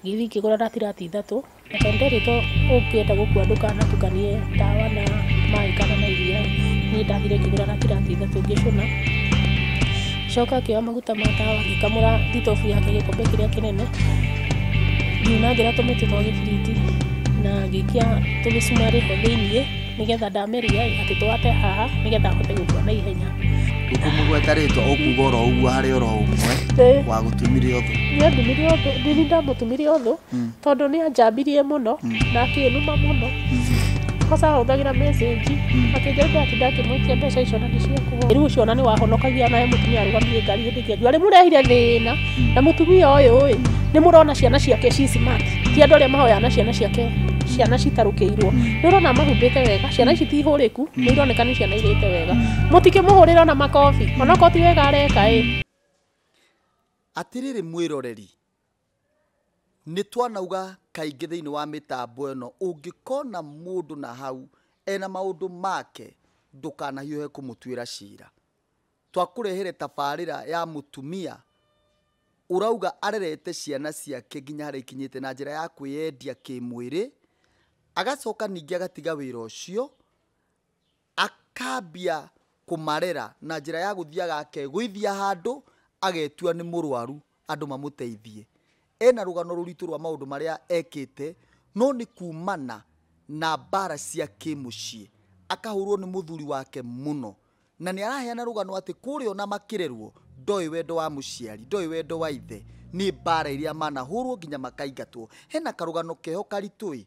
Ngĩthiĩ ngĩgũra ratirati ithatũ, na tondũ nderĩ to ũngĩenda gũkua ndũkanatukanie ndawa na maĩ kana na iria, niĩ ndathire ngĩgũra ratirati ithatũ ngĩcũna. Ngĩcoka ngĩoya maguta ma tawa ngĩkamũra thitobu yake gĩkombe kĩrĩa kĩnene, ngiunangĩra tũmĩtĩ twa gĩbiriti na ngĩikia tũmĩcumarĩ ho thĩiniĩ. nĩgetha ndamĩria atĩ twate haha nĩgetha ahote gũkua na ihenya ndũkũmũgweta rĩtwa ũkuga oro ũguo harĩ oro ũmwe Ĩĩ. wa gũtumire ũthũ nĩandumire ũthũ ndini ndamũtumire ũthũ Mm. tondũ nĩ anjambirie mũno na akĩnuma mũno kosa ahũthagĩra message akĩnjamba atĩ ndakĩmwĩtia mbeca icio na nĩ cia kũhũra rĩu ũcio ona nĩ wahonokagia naye mũtumia arũgamire ngari hĩndĩ ĩngĩ arĩ mũrehire thĩna na mũtumia ũyũ ĩ nĩ mũrona ciana ciake ci smart ti andå arä a mahoyaga na ciana ciake ciana citarũkä irwo nä å rona mahumbä te wega ciana ici ti hå rä ku nä ironeka nä ciana irä te wega må tikä må hå rä ra ona makobi onokorwo ti wega areka ä Atĩrĩrĩ mwĩroreri, nĩ twanauga kaingĩ thĩinĩ wa mĩtambo ĩno, ũngĩkona mũndũ na hau ena maũndũ make ndũkanahiũhe kũmũtuĩra cira. Twakũrehere tabarĩra ya mũtumia ũrauga arerete ciana ciake nginya harĩa ikinyĩte na njĩra ya kwĩyendia kĩmwĩrĩ, agacoka ningĩ agatiga wĩra ũcio, akambia kũmarera na njĩra ya gũthiaga akegũithia handũ, agetua nĩ mũrwaru. andũ mamũteithie. Ena rũgano rũritũ rwa maũndũ marĩa ekĩte no nĩ kumana na mbara cia kĩmũciĩ akahũrwo nĩ mũthuri wake mũno na nĩ araheana rũgano atĩ kũrĩa ona makĩrerwo ndoĩ wendo wa mũciari, ndoĩ wendo wa ithe, nĩ mbara iria manahũrwo nginya makaingatwo. Hena karũgano keho karitũ ĩ.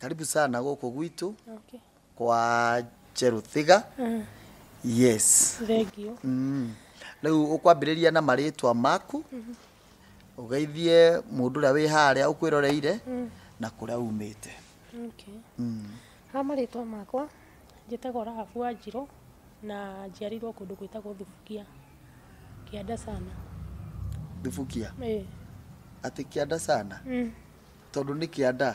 karibu sana gũkũ gwitũ Okay. kwa cheruthiga Mm. yes Thengiũ. Mm. rĩu ũkwambĩrĩria na marĩtwa maku ũgeithie mũndũ ũrĩa wĩ harĩa ũkwĩroreire na kũrĩa umĩte Okay. Mm. Ha marĩtwa makwa njĩtagwo Rahabu wa Njirũ na njiarirwo kũndũ gwĩtagwo Thubukia kĩanda sana. thubukia Ĩĩ. atĩ kĩanda sana Mm. tondũ nĩ kĩanda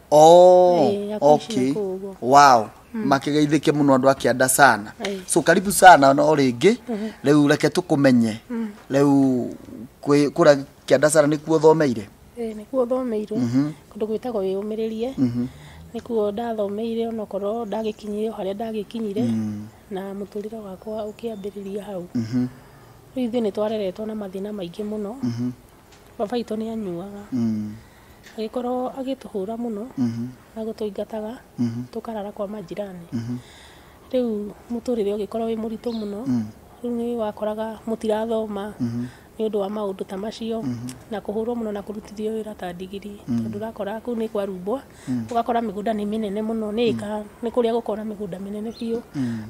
Oh, Eh, ya kuishi okay. na kuugua. Wow. makigeithike muno andu akianda sana Eh. so karibu sana no ringi riu reke tukumenye riu kwi- kura kianda sana nikuo thomeire Eh, nĩkuo thomeirwo kũndũ gwĩtagwo wĩyũmĩrĩrie nĩkuo ndathomeire onokorwo ndagĩkinyire o harĩa ndagĩkinyire na mũtũrĩre wakwa ũkĩambĩrĩria hau rĩu ithuĩ nĩ twareretwo na mathĩna maingĩ mũno baba itũ nĩ anyuaga Mm. Agĩkorwo agĩtũhũra mũno na gũtũingataga tũkarara kwa manjirani. Rĩu mũtũrĩre ũgĩkorwo wĩ mũritũ mũno, rĩu nĩ wakoraga mũtirathoma nĩ ũndũ wa maũndũ ta macio, na kũhũrwo mũno na kũrutithio wĩra ta ndigiri. Tondũ ũrakora kũu nĩ kwarumbwa, ũgakora mĩgũnda nĩ mĩnene mũno, nĩ ĩka. nĩ kũrĩa gũkoragwo na mĩgũnda mĩnene biũ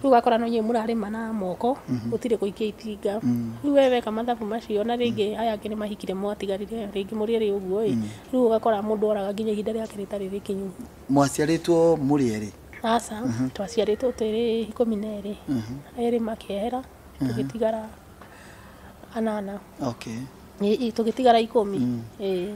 rĩu ũgakora no inyuĩ mũrarĩma na moko gũtirĩ gũikia itinga rĩu we weka mathabu macio na rĩngĩ aya angĩ nĩ mahikire mwatigarire rĩngĩ mũrĩ erĩ ũguo ĩ rĩu ũgakora mũndũ oraga nginya ihinda rĩake rĩtarĩ rĩkinyu mwaciarĩtwo mũrĩ erĩ aca twaciarĩtwo twĩrĩ ikũmi na erĩ erĩ makĩehera tũgĩtigara anana okay Ĩ- ĩ, tũgĩtigara ikũmi Ĩ.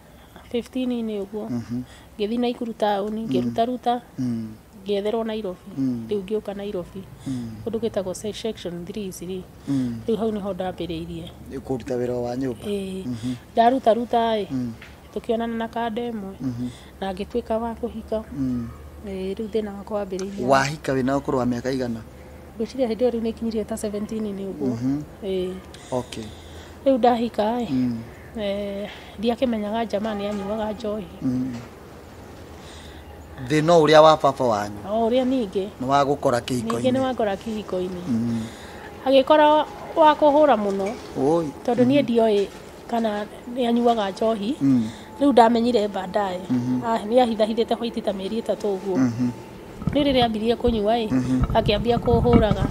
15 -inĩ ũguo ngĩthiĩ Naikuru taũni ngĩruta ruta ngĩetherwo Nairobi rĩu ngĩũka Nairobi kũndũ gwĩtagwo se- section 3 rĩ rĩu hau nĩho ndambĩrĩirie kũruta wĩra wa nyũmba Ĩĩ. ndaruta ruta ĩ tũkĩonana na kanda ĩmwe na ngĩtuĩka wa kũhika Ĩĩ, rĩu thĩna wakwa wambĩrĩirie wahika wĩna ũkũrũ wa mĩaka igana ngwĩciria hĩndĩ ĩyo rĩu nĩkinyirie ta 17 -inĩ ũguo Ĩĩ. okay rĩu ndahika ĩ Eh, ndiakĩmenyaga njama nĩ anyuaga njohi thä no å rä a wa baba wanyu o ũrĩa ningĩ nä wa gå kora kä ningĩ nĩ hiko-inä wangora kĩhiko-inĩ agĩkora wa kũhũra mũno Oi. tondũ niĩ ndioĩ kana nĩ anyuaga njohi Mm. rĩu ndamenyire baadaye Ah, nĩ ahithahithĩte hwaiti ta mĩeri ĩtatũ ũguo Rĩu rĩrĩa ambirie kũnyua ĩ, akĩambia kũhũraga.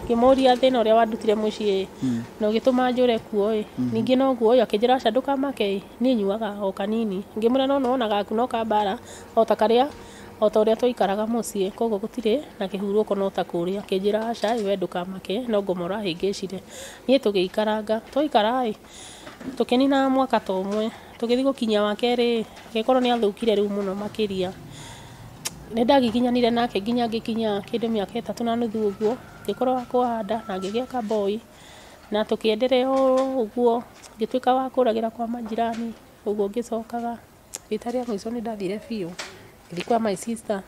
Ngĩmũria thĩna ũrĩa wandutire mũciĩ ĩ, na ũgĩtũma njũre kuo ĩ, ningĩ noguo ĩ, akĩnjĩra aca ndũkamake ĩ, niĩ nyuaga o kanini. Ngĩmwĩra no nĩwona gaku no ka mbara, o ta karĩa, o ta ũrĩa twaikaraga mũciĩ, koguo gũtirĩ na kĩhurũko no ta kũrĩa. Akĩnjĩra aca ĩ, we ndũkamake, no ngoma ũrahĩngĩcire. Niĩ tũgĩikaranga, twaikara ĩ, Tũkĩninaga mwaka ta ũmwe, tũgĩthiĩ gũkinyia wa kerĩ ĩ, agĩkorwo nĩ athũkire rĩu mũno makĩria. Nĩ ndagĩkinyanire nake nginya ngĩkinyia kĩndũ mĩaka ĩtatũ na nuthu ũguo, ngĩkorwo wa kũhanda na ngĩgĩa ka boy, na tũkĩ endelea o ũguo, ngĩtuĩka wa kũragĩra kwa manjirani, ũguo ngĩcokaga. Rita rĩa mũico nĩ ndathire biũ, ngĩthiĩ kwa my sister,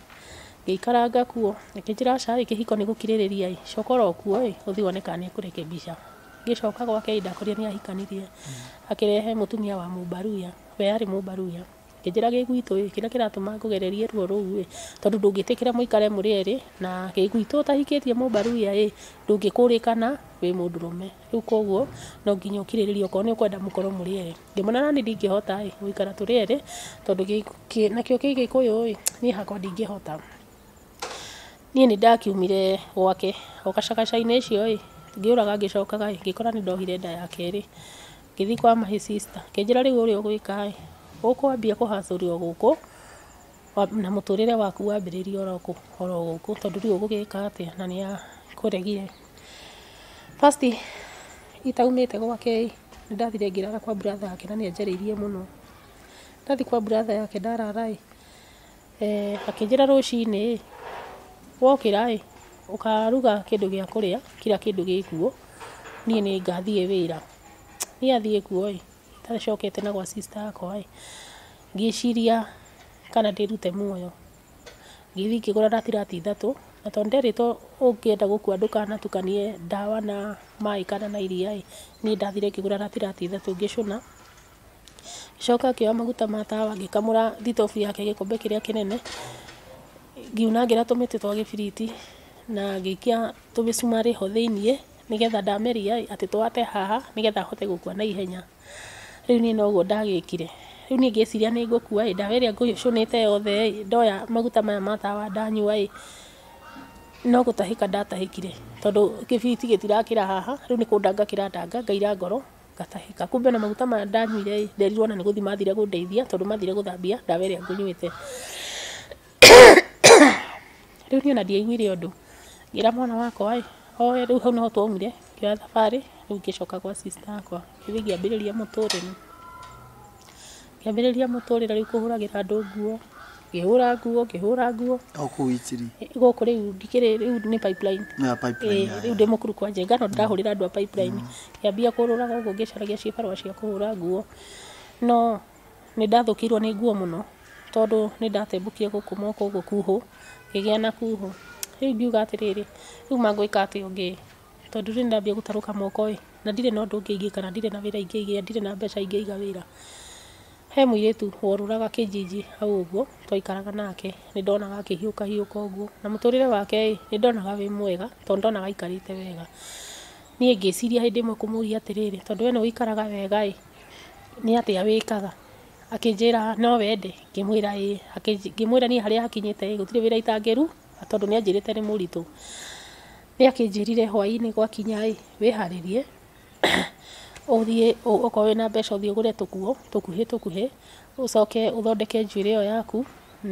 ngĩikaranga kuo, akĩnjĩra aca ĩ, kĩhiko nĩ gũkirĩrĩria ĩ, coka oro kuo ĩ, ũthiĩ wone kana nĩ ekũrekebisha. Ngĩcoka gwake ĩ, ndakorire nĩ ahikanirie. Akĩrehe mũtumia wa mũmbaruya, we arĩ mũmbaruya, akĩnjĩra gĩ gwitũ ĩ, kĩrĩa kĩratũma ngũgererie ruo rũu ĩ, tondũ ndũngĩtĩkĩra mũikare mũrĩ erĩ, na gĩ gwitũ ũtahikĩtie mũmbaruya ĩ, ndũngĩkũrĩkana wĩ mũndũrũme. Rĩu kũguo no nginya ũkirĩrĩrie okorwo nĩ ũkwenda mũkorwo mũrĩ erĩ. Ngĩmwĩra naniĩ ndingĩhota ĩ gũikara tũrĩ erĩ tondũ nakĩo kĩ gĩkũyũ ĩ niĩ hakwa ndingĩhota. Niĩ nĩ ndakiumire gwake o gacagaca-inĩ ĩcio ĩ ngĩũraga ngĩcokaga ĩ ngĩkora nĩ ndohire nda ya kerĩ. Ngĩthiĩ kwa my sister akĩnjĩra rĩu ũrĩa ũgwĩka ĩ ũkwambia kũ hustle o gũkũ na mũtũrĩre waku wambĩrĩrie oro gũkũ tondũ ndũĩ ũgũgĩka atĩa na nĩ akũregire. First itaumĩte gwake ĩ, nĩ ndathire ngĩrara kwa brother yake na nĩ anjarĩirie mũno. Ndathiĩ kwa brother yake ndarara ĩ, akĩnjĩra rũcinĩ ĩ, wokĩra ĩ, ũkaruga kĩndũ gĩa kũrĩa kira kĩndũ gĩ kuo, niĩ nĩ ngathiĩ wĩra. Niĩ athiĩ kuo ĩ, itacokete na gwa sister yakwa ĩ, ngĩciria kana ndĩrute muoyo. ngĩthiĩ ngĩgũra na tirati ithatũ, na tondũ nderĩtwo ũngĩenda gũkua ndũkanatukanie ndawa na maĩ kana na iria ĩ, niĩ ndathire ngĩgũra na tirati ithatũ ngĩcũna, ngĩcoka ngĩoya maguta ma tawa ngĩkamũra thitobu yake gĩkombe kĩrĩa kĩnene, ngiunangĩra tũmĩtĩ twa gĩbiriti na ngĩikia tũmĩcumarĩ ho thĩiniĩ, nĩgetha ndameria ĩ atĩ twate haha, nĩgetha hote gũkua na ihenya. rĩu niĩ noguo ndagĩkire, rĩu niĩ ngĩciria nĩ ngũkua ĩ, ndawa ĩrĩa ngũcũnĩte yothe ĩ, ndoya maguta maya ma tawa ndanyua ĩ, no gũtahĩka ndatahĩkire, tondũ kĩbiriti gĩtirakĩra haha, rĩu nĩ kũndanga kĩrandanga ngaira ngoro ngatahĩka, kumbe ona maguta maya ndanyuire ĩ, nderirwo ona nĩ gũthiĩ mathire gũndeithia, tondũ mathire gũthambia ndawa ĩrĩa ngũnyuĩte. Rĩu niĩ ona ndiaiguire ũndũ, ngĩra mwana wakwa ĩ, oe rĩu hau nĩho twaumire, ngĩoya thabarĩ, rĩu ngĩcoka gwa sister yakwa, ithuĩ ngĩambĩrĩria mũtũrĩre, ngĩambĩrĩria mũtũrĩre rĩu kũhũragĩra andũ nguo, ngĩhũra nguo, ngĩhũra nguo, O kũu Itiri. gũkũ rĩu ndikĩrĩ rĩu nĩ pipeline Na Ĩĩ, pipeline rĩu yayo. ndĩ mũkuru kwa njenga no ndĩrahũrĩra andũ a pipeline ngĩambia kũrũraga ũguo ngĩcaragia cibarũa cia kũhũra nguo no Nĩ ndathũkĩirwo nĩ nguo mũno tondũ nĩ ndatembũkire gũkũ mwaka ũguo kuhũ, ngĩgĩa na kuhũ. Rĩu ngiuga atĩrĩrĩ, rĩu ma ngwĩka atĩa ũngĩ ĩ, tondũ rĩu nĩ ndambia gũtarũka moko ĩ, na ndirĩ na ũndũ ũngĩ ingĩka na ndirĩ na wĩra ingĩigĩra, ndirĩ na mbeca ingĩiga wĩra. He mũirĩtu worũraga Kĩnjinji hau ũguo twaikaraga nake, nĩ ndonaga akĩhiũka hiũka ũguo. Na mũtũrĩre wake ĩ, nĩ ndonaga wĩ mwega tondũ nĩ ndonaga aikarĩte wega. Niĩ ngĩciria hĩndĩ ĩmwe kũmũria atĩrĩrĩ, tondũ we nĩ ũikaraga wega ĩ. nĩ atĩa wĩkaga? Akĩnjĩra no wende? Ngĩmwĩra ĩĩ. Ngĩmwĩra niĩ harĩa hakinyĩte ĩĩ gũtirĩ wĩra itangĩruta tondũ nĩ anjĩrĩte nĩ mũritũ. Nĩ akĩnjĩrire hwainĩ gwakinya ĩĩ wĩharĩrie ũthiĩ okorwo wĩna mbeca ũthiĩ ũgũre tũkuo tũkuhĩ tũkuhĩ ũcoke ũthondeke njuĩrĩ ĩyo yaku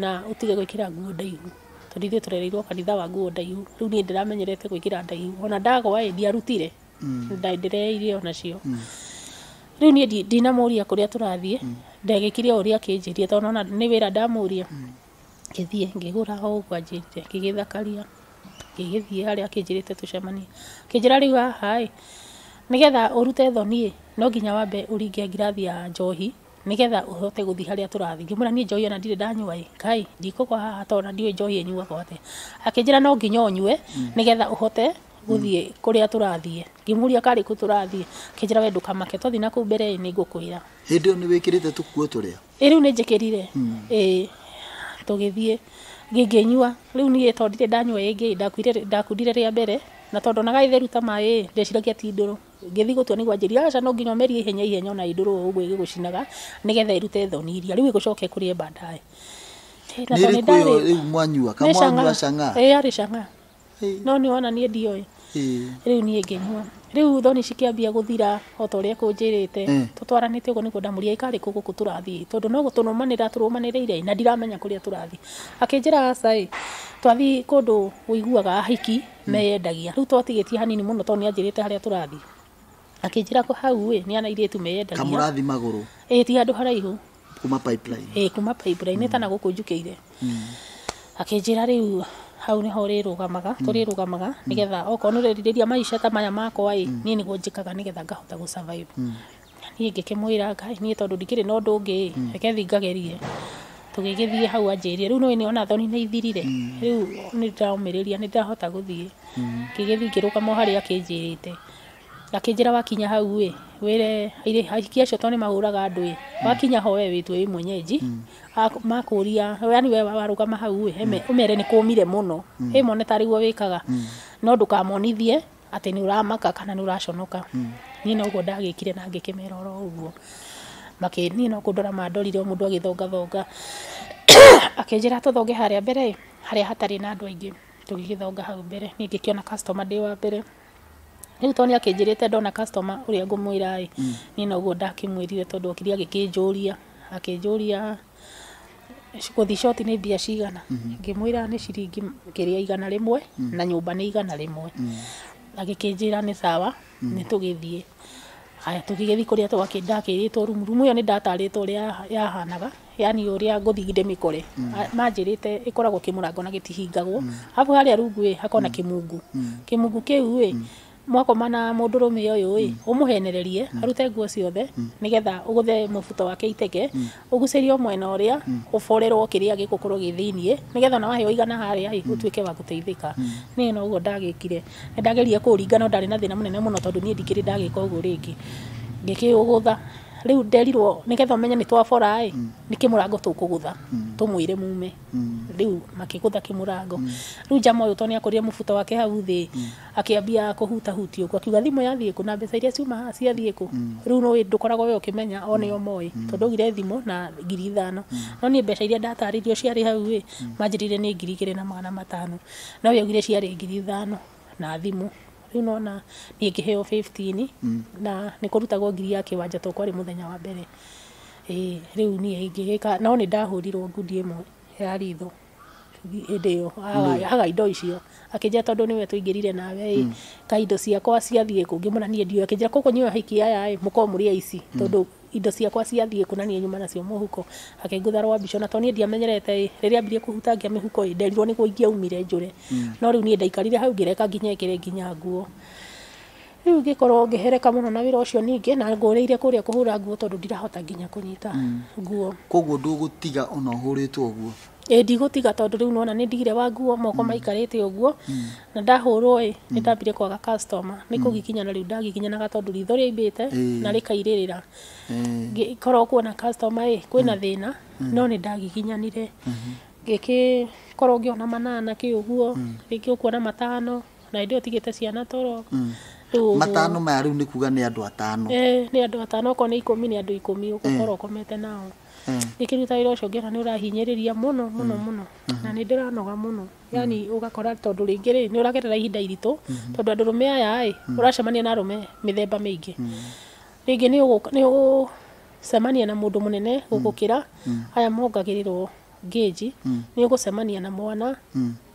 na ũtige gwĩkĩra nguo ndaihu tondũ ithuĩ tũrereirwo kanitha wa nguo ndaihu. Rĩu niĩ ndiramenyerete gwĩkĩra ndaihu ona ndagwa ĩĩ ndiarutire. Nda- ndĩree irio o nacio rĩu niĩ ndi- ndinamũria kũrĩa tũrathiĩ ndagĩkire o ũrĩa akĩnjĩrie tondũ nona nĩ wĩra ndamũria ngĩthiĩ ngĩgũra o ũguo anjĩrire ngĩgĩthakaria ngĩgĩthiĩ harĩa akĩnjĩrĩte tũcemanie akĩnjĩra rĩu haha ĩ nĩgetha ũrute thoni ĩ no nginya wambe ũringe ngirathi ya njohi nĩgetha ũhote gũthiĩ harĩa tũrathiĩ ngĩmwĩra niĩ njohi ona ndirĩ ndanyua ĩ Kai ndikũgwa haha tondũ ona ndiũĩ njohi ĩnyuagwo atĩa akĩnjĩra no nginya ũnyue nĩgetha ũhote gũthiĩ kũrĩa tũrathiĩ ngĩmũria karĩ kũ tũrathiĩ akĩnjĩra we ndũkamake twathiĩ na kũu mbere nĩ ngũkwĩra hĩndĩ ĩyo nĩ wĩkĩrĩte tũkuo tũrĩa ĩ rĩu nĩ njĩkĩrire ĩ tũgĩthiĩ ngĩnyua rĩu niĩ tondũ ndirĩ ndanyua ĩngĩ ndakuire- ndakundire rĩa mbere na tondũ ndonaga ĩ theru ta maĩ ĩ ndeciragia ti ndũrũ ngĩthiĩ gũtua nĩguo anjĩrire aca no nginya ũmerie ihenya ihenya ona ĩ ndũrũ o ũguo ĩgĩgũcinaga nĩgetha ĩrute thoni iria rĩu ĩgũcoke ĩkũrĩe baadaye Ĩ, na nĩ tondũ ĩrĩkũ ĩyo nĩndarĩ- rĩu mwanyua nĩ kamwanyua cang'aa. cang'aa Ĩ, yarĩ cang'aa no nĩ wona niĩ ndioĩ rĩu niĩ ngĩnyua rĩu thoni cikĩambia gũthira o ta ũrĩa ekũnjĩrĩte tũtwaranĩte ũguo nĩguo ndamũria ĩ karĩ kũ gũkũ tũrathiĩ tondũ no gũtũrũmanĩrĩra tũrũmanĩrĩire na ndiramenya kũrĩa tũrathiĩ akĩnjĩra aca ĩ twathiĩ kũndũ ũiguaga ahiki meyendagia rĩu twatigĩtie hanini mũno tondũ nĩ anjĩrĩte harĩa tũrathiĩ. Akĩnjĩra kũ hau ĩ nĩ ana airĩtu meyendania. Kamũrathi magũrũ. Ĩ ti handũ haraihu. Kuma pipeline. Ĩ kuma pipeline mm. tana gũkũ njukĩire. Mm. Akĩnjĩra rĩu hau niho ũrĩrũgamaga mm. tũrĩrũgamaga mm. nigetha okorwo nĩũrerirĩria maisha ta maya makwa ĩ mm. niĩ nĩguo njĩkaga nigetha ngahota gũ survive. Mm. Niĩ ngĩkĩmwĩra ngai niĩ tondũ ndikĩrĩ na ũndũ ũngĩ ĩ reke thiĩ ngagerie. tũgĩgĩthiĩ hau anjĩrire rĩu nĩũĩ nĩwona thoni nĩ ithirire rĩu nĩ ndĩramũmĩrĩria nĩ ndĩrahota gũthiĩ ngĩgĩthiĩ ngĩrũgama o harĩa akĩnjĩrĩte akĩnjĩra wakinya hau ĩ wĩre airĩ- ahiki acio tondũ nĩ mahũraga andũ ĩ wakinya ho we wĩtue wĩ mwenyenji Ak- makũria yani we warũgama hau ĩ eme- ũmere nĩ kũmire mũno ĩ mone tarĩguo wĩkaga no ndũkamonithie atĩ nĩ ũramaka kana nĩ ũraconoka niĩ noguo ndagĩkire na ngĩkĩmera oro ũguo makĩ niĩ no kũndora mandorire o mũndũ agĩthongathonga akĩnjĩra tũthonge harĩa mbere ĩ, harĩa hatarĩ na andũ aingĩ tũgĩgĩthonga hau mbere niĩ ngĩkĩona customer ndĩ wa mbere rĩu tondũ nĩ akĩnjĩrĩte ndona customer ũrĩa ngũmwĩra ĩ niĩ noguo ndakĩmwĩrire tondũ okire agĩkĩnjũria akĩnjũria gũthiĩ coti nĩ mbia cigana, ngĩmwĩra nĩ ciringi kĩrĩa igana rĩmwe na nyũmba nĩ igana rĩmwe, agĩkĩnjĩra nĩ sawa nĩ tũgĩthiĩ, haya tũgĩgĩthiĩ kũrĩa ndakĩrĩtwo room, room ĩyo nĩ ndatarĩtwo ũrĩa yahanaga, yaani ũrĩa ngũthiĩ ndĩmĩkore, manjĩrĩte ĩkoragwo kĩmũrango na gĩtihingagwo, arabu harĩa rungu ĩ hakoragwo na kĩmungu, kĩmungu kĩu ĩ mwakoma na mũndũrũme ũyũ ĩ ũmũhenererie arute nguo ciothe nĩgetha ũgũthe mũbuto wake iteke ũgucĩrio mwena ũrĩa ũborerwo kĩrĩa gĩgũkorwo gĩ thĩiniĩ nĩgetha ona waheo igana harĩa ĩ ũtuĩke wa gũteithĩka niĩ no ũguo ndagĩkire nĩ ndageririe kũũringa no ndarĩ na thĩna mũnene mũno tondũ niĩ ndikĩrĩ ndagĩka ũguo rĩngĩ ngĩkĩũgũtha rĩu nderirwo nĩgetha ũmenye nĩ twabora ĩ nĩ kĩmũrango tũkũgũtha tũmwĩre mume rĩu makĩgũtha kĩmũrango rĩu njama ũyũ tondũ nĩ akũrire mũbuto wake hau thĩ Akĩambia kũhutahutia ũguo akiuga thimũ yathiĩ kũ na mbeca iria ciuma haha ciathiĩ kũ? Rĩu nĩ ndũkoragwo we ũkĩmenya o nĩo moĩ tondũ augire thimũ na ngiri ithano. No niĩ mbeca iria ndatarĩirio ciarĩ hau ĩ manjĩrĩire nĩ ngiri igĩrĩ na magana matano no we augire ciarĩ ngiri ithano na thimũ. Rĩu nĩ wona niĩ ngĩheo fifteen na nĩ kũrutagwo ngiri ya kĩwanja to kwarĩ mũthenya wa mbere. Ĩĩ rĩu niĩ ingĩgĩka no nĩ ndahũrirwo ngundi ĩmwe ya ritho. hĩndĩ ĩyo aga- aga indo icio akĩnjĩra tondũ nĩwe tũingĩrire nawe ĩ ka indo ciakwa ciathiĩ kũ ngĩmwĩra niĩ ndiũĩ akĩnjĩra kũkũ nyuĩ ahiki aya ĩ mũkorwo mũrĩ aici tondũ indo ciakwa ciathiĩ kũ na niĩ nyuma nacio mũhuko akĩngutha rwa mbica na to niĩ ndiamenyerete ĩ rĩrĩa ambirie kũhutangia mĩhuko ĩ nderirwo nĩguo ingĩaumire njũre no rĩu niĩ ndaikarire hau ngĩreka nginya ekĩre nginya nguo Rĩu ngĩkorwo ngĩhereka mũno na wĩra ũcio ningĩ na ngũrĩire kũrĩa kũhũra nguo tondũ ndirahota nginya kũnyita mm. nguo. Koguo ndũgũtiga ona ũhũrĩtwo ũguo? Ĩĩ ndigũtiga tondũ rĩu nona nĩ ndigire wa nguo moko mm. maikarĩte ũguo mm. na ndahũrwo ĩ nĩ ndambire kwaga customer nĩ kũgikinya na rĩu ndagikinyanaga tondũ ritho rĩaimbĩte na rĩkairĩrĩra ngĩkorwo kuona customer ĩ kwĩna thĩna no nĩ ndagikinyanire mm-hmm. ngĩkĩ korwo ngĩona manana kä å guo rä ngä å kuona matano na hĩndĩ ĩyo tigĩte ciana toro mm. matano maya rĩu nĩ kuga nĩ andũ atano eh, nĩ andũ atano okorwo nĩ ikũmi nĩ andũ ikũmi eh. ũgũkorwo ũkomete nao eh. ikĩruta wĩra ũcio ngĩona nĩ ũrahinyĩrĩria mũno mũno mm. mũno mm-hmm. na nĩ ndĩranoga mũno yani mm. ũgakora tondũ rĩngĩ rĩ nĩ ũragerera ihinda iritũ mm-hmm. tondũ andũ rũme aya ĩ mm. ũracemania na rũme mĩthemba mĩingĩ rĩngĩ nĩ ũgũcemania na mũndũ mũnene gũgũkĩra aya mongagĩrĩrwo Gauge, nĩ ũgũcemania na mwana,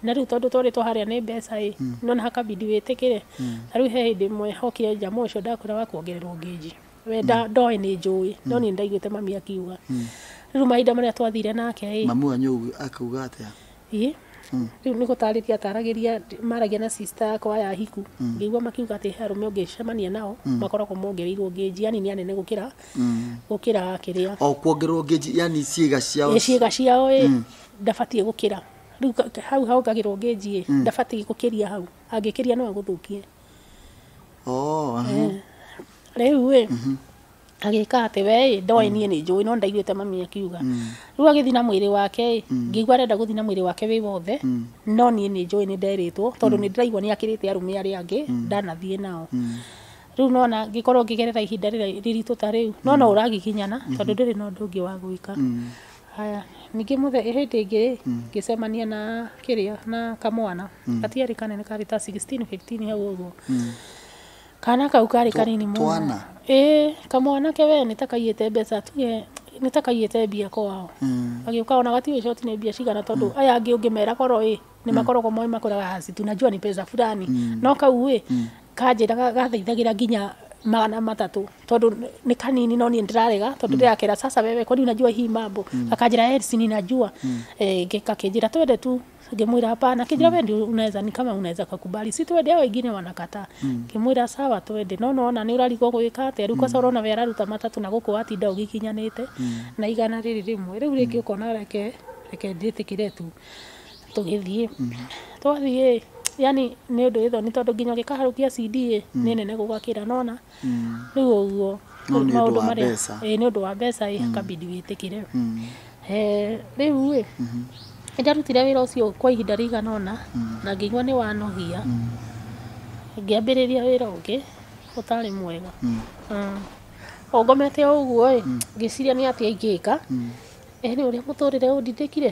na rĩu tondũ twarĩtwo harĩa nĩ mbeca ĩ, nĩ wona hakabindi wĩtĩkĩre, ta rĩu he hĩndĩ ĩmwe hokire jamaa ũcio ndakwĩra wa kuongererwo gauge, we ndoĩ nĩ njũĩ, no niĩ nĩ ndaiguĩte mami akiuga, rĩu mahinda marĩa twathire nake ĩ, Mamu wanyu akiuga atĩa? ĩ, rĩu nĩ gũtarĩria ataragĩria, maragia na sister yakwa ya Ahiku, ngĩigua makiuga atĩ he arũme ũngĩcemania nao, makoragwo mongereirwo gauge, yaani nĩ anene gũkĩra gũkĩra kĩrĩa o kuongerwo ngeji yani ciĩga ciao Ĩ, ciĩga ciao ĩ ndabatiĩ gũkĩra rĩu ka- ka- hau hongagĩrwo ngeji ĩ ndabatiĩ gũkĩria hau angĩkĩria no agũthũkie Oh, aha. Eh, rĩu ĩ agĩka atĩ we ĩ ndoĩ niĩ nĩ njũĩ no ndaiguĩte mami akiuga rĩu agĩthiĩ na mwĩrĩ wake ĩ ngĩigua arenda gũthiĩ na mwĩrĩ wake wĩ wothe no niĩ nĩ njũĩ nĩ nderĩtwo tondũ nĩ ndĩraigua nĩ akĩrĩte arũme arĩa angĩ ndanathiĩ nao Rĩu nona ngĩkorwo ngĩgerera ihinda rĩrĩa rĩritũ ta rĩu nona mm. ũragiginyana mm-hmm. tondũ ndĩrĩ na ũndũ ũngĩ wa gwĩka mm. haya ningĩ mũthe hĩndĩ ĩngĩ rĩ mm. ngĩcemania na kĩrĩa na kamwana gatiarĩ kanene karĩ ta 16 15 hau ũguo kana kau karĩ kanini mũno ĩĩ kamwana ke wee nĩ ta kaiyĩte mbeca tuge nĩ ta kaiyĩte mbia kwao agĩũka ona gatiũĩ coti nĩ mbia cigana tondũ aya angĩ ũngĩmera korwo ĩ nĩ makoragwo moĩ makũraga hacitu najua ni pesa fulani no kau ĩ Kanjĩraga gathaithagĩra nginya magana matatũ tondũ nĩ kanini no niĩ ndĩrarega tondũ ndĩrakera sasa wewe kwani unajua hii mambo akanjĩra "Eh, si ninajua eh, nge- kakĩnjĩra twende tu ngĩmwĩra hapana kĩnjĩra we ndio unaweza ni kama unaweza kakubali si twende hao wengine wanakataa ngĩmwĩra sawa twende no nona nĩ ũrarigwo gwĩka atĩa rĩu kosa ũrona we araruta matatũ na gũkũ watinda ũgĩkinyanĩte na igana rĩrĩ rĩmwe rĩu rĩngĩ ũkona reke reke ndĩtĩkĩre tu tũgĩthiĩ twathiĩ yani nĩ ũndũ wĩ thoni tondũ nginya ũngĩkaharũkia CD ĩ nĩ nene gũgakĩra nona rĩu ũguo No nĩ ũndũ wa mbeca. ĩ nĩ ũndũ wa mbeca ĩ kabidi wĩtĩkĩre Eh, rĩu ĩ nĩ ndarutire wĩra ũcio kwa ihinda rĩigana ũna na ngĩigua nĩ wanogia ngĩambĩrĩria wĩra ũngĩ ũtarĩ mwega Mm. o ngomete o ũguo ĩ ngĩciria nĩ atĩa ingĩka ĩ nĩ ũrĩa mũtũrĩre ũndindĩkire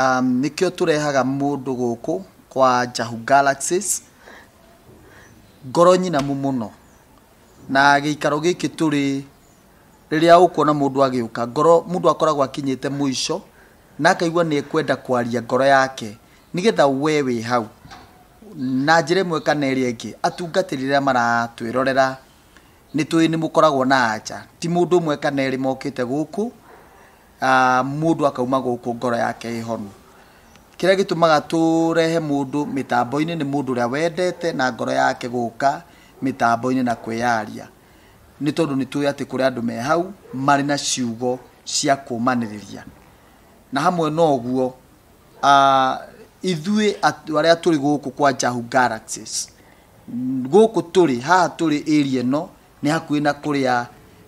Um, nĩkĩo tũrehaga mũndũ gũkũ kwa Njahu Galaxies ngoro nyinamu mũno na gĩikaro gĩkĩ tũrĩ rĩrĩa ũkuona mũndũ agĩũka ngoro mũndũ akoragwo akinyĩte mũico na akaigua nĩ ekwenda kwaria ngoro yake nĩgetha we wĩ hau na njĩra ĩmwe kana ĩrĩa ĩngĩ atungatĩri rĩrĩa maratwĩrorera nĩ tũĩ nĩ mũkoragwo na anja ti mũndũ ũmwe kana erĩ mokĩte gũkũ Ah, mũndũ akauma gũkũ ngoro yake ĩhonu kĩrĩa gĩtũmaga tũrehe mũndũ mĩtambo-inĩ nĩ mũndũ ũrĩa wendete na ngoro yake gũka mĩtambo-inĩ na kwĩyaria nĩ tondũ nĩ tũĩ atĩ kũrĩ andũ me hau marĩ na ciugo cia kũmanĩrĩria na hamwe na ũguo ah, ithuĩ at- arĩa tũrĩ gũkũ kwa Jahu Galaxies gũkũ tũrĩ haha tũrĩ area ĩno nĩ hakuhĩ na kũrĩa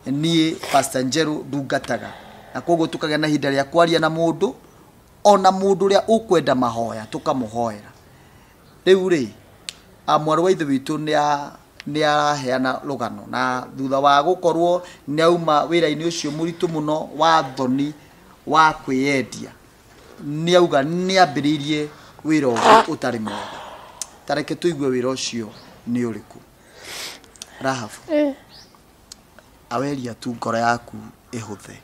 niĩ Pastor Njerũ ndungataga, na koguo tũkagĩa na ihinda rĩa kwaria na mũndũ, ona mũndũ ũrĩa ũkwenda mahoya tũkamũhoera. Rĩu rĩ, a, mwarĩ wa ithe witũ nĩ a- nĩ araheana rũgano na thutha wa gũkorwo nĩ auma wĩra-inĩ ũcio mũritũ mũno wa thoni wa kwĩyendia nĩ auga nĩ ambĩrĩirie wĩra ũngĩ ũtarĩ mwega tareke tũigue wĩra ũcio nĩ ũrĩkũ Rahabu Eh, aweria tu ngoro yaku ĩhũthe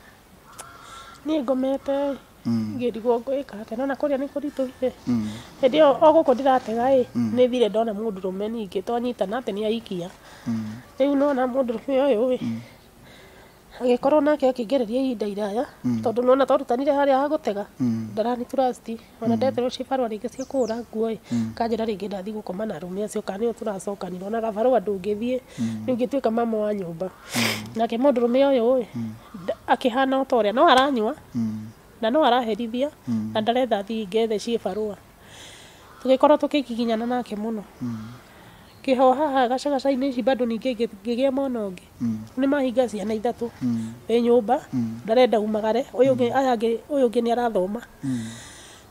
niĩ ngomete Mm, ngĩrigwo ngwĩka atĩa nona kũrĩa nĩ kũritũhire mm, hĩndĩ ĩyo o gũkũ ndĩratega ĩ nĩ thire ndona mũndũrũme ningĩ twanyitana atĩ nĩ aikia mm. rĩu nona mũndũrũme ũyũ ĩ Agĩkorwo nake akĩngereria ihinda iraya tondũ nĩwona twarutanire harĩa ha gũtega ndarani trust ona ndeterwo ciĩ barũa rĩngĩ cia kũhũra nguo ĩ akanjĩra rĩngĩ ndathiĩ gũkoma na arũme acio kana nĩo tũracokanire ona gabarũa ndũngĩthiĩ rĩu ngĩtuĩka mama wa nyũmba nake mũndũrũme ũyũ ĩ akĩhana ota ũrĩa no aranyua na no araherithia na ndarenda thiĩ ngethĩ ciĩ barũa tũgĩkorwo tũkĩgiginyana nake mũno. Kĩho haha gacagaca-inĩ ici bado ningĩ ngĩgĩa mwana ũngĩ. Rĩu nĩ mahinga ciana ithatũ wĩ nyũmba, ndarenda umagare, ũyũ ũngĩ, aya angĩ, ũyũ ũngĩ nĩ arathoma,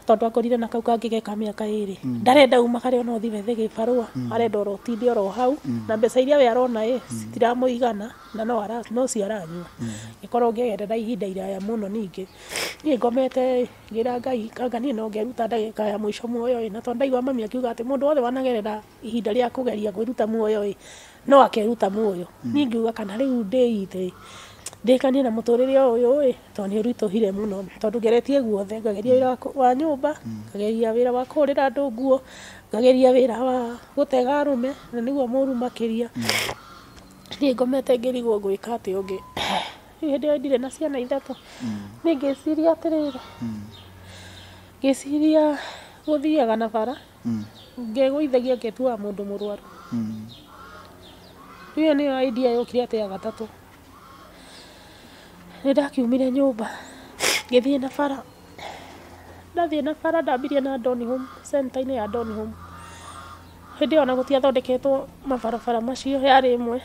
tondũ akorire na kau kangĩ ge ka mĩaka ĩrĩ. Ndarenda umagare ona ũthiĩ wethe gĩbarũa, arenda oro ũtinde oro hau, na mbeca iria we arona ĩ, citiramũigana, na no ara, no cio aranyua. Ngĩkorwo ngĩeterera ihinda iraya mũno ningĩ. Niĩ ngomete ĩ, ngĩra Ngai, anga niĩ no ngeruta ndagĩka ya mũico muoyo ĩ, na tondũ ndaiguaga mami akiuga atĩ mũndũ wothe wanagerera ihinda rĩa kũgeria kwĩruta muoyo-ĩ, no akeruta muoyo. Niĩ ngiuga kana rĩu ndĩite-ĩ, ndĩĩkanie na mũtũrĩre o ũyũ-ĩ, tondũ nĩũritũhire mũno. Tondũ ngeretie guothe, ngageria wĩra wa nyũmba, ngageria wĩra wa kũhũrĩra andũ nguo, ngageria wĩra wa gũtega arũme, na nĩguo mũru makĩria. Niĩ ngomete ngĩrigwo ngwĩka atĩa ũngĩ. Rĩu hĩndĩ ĩyo ndirĩ na ciana ithatũ, niĩ ngĩciria atĩrĩrĩ, ngĩciria gũthiaga na bara. ngĩgũithagia ngĩtuaga mũndũ mũrwaru. Rĩu ĩyo nĩyo idea yokire atĩ ya gatatũ. Nĩ ndakiumire nyũmba ngĩthiĩ na bara, ndathiĩ na bara ndambirie na Donny Home, center -inĩ ya Donny Home. Hĩndĩ ĩyo ona gũtiathondeketwo mabarabara macio yarĩ ĩmwe.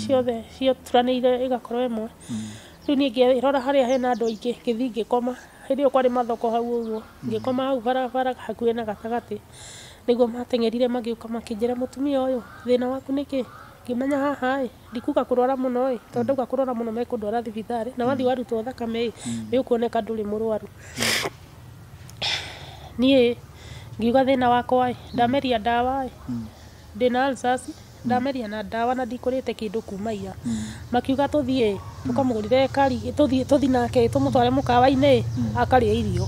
ciothe cituranĩire ĩgakorwo ĩmwe. Rĩu niĩ ngĩrora harĩa hena andũ aingĩ ngĩthiĩ ngĩkoma, hĩndĩ ĩyo kwarĩ mathoko hau ũguo, ngĩkoma hau barabara hakuhĩ na gatagatĩ, nĩguo mateng'erire magĩũka makĩnjĩra mũtumia ũyũ thĩna waku nĩ kĩĩ? Ngĩmenya haha ĩ ndikuga kũrwara mũno ĩ, tondũ ndauga kũrwara mũno mekũndwara thibitarĩ, na wathiĩ warutwo thakame ĩ nĩ ũkuoneka ndũrĩ mũrwaru. Niĩ ngiuga thĩna wakwa ĩ ndameria ndawa ĩ... Ndĩna ulcers, ndameria na ndawa na ndikũrĩte kĩndũ kuma ira. Makiuga tũthiĩ ĩ, tũkamũgũrĩre kari, tũthiĩ tũthi nake ĩ, tũmũtware mũkawa-inĩ ĩ, akarĩe irio.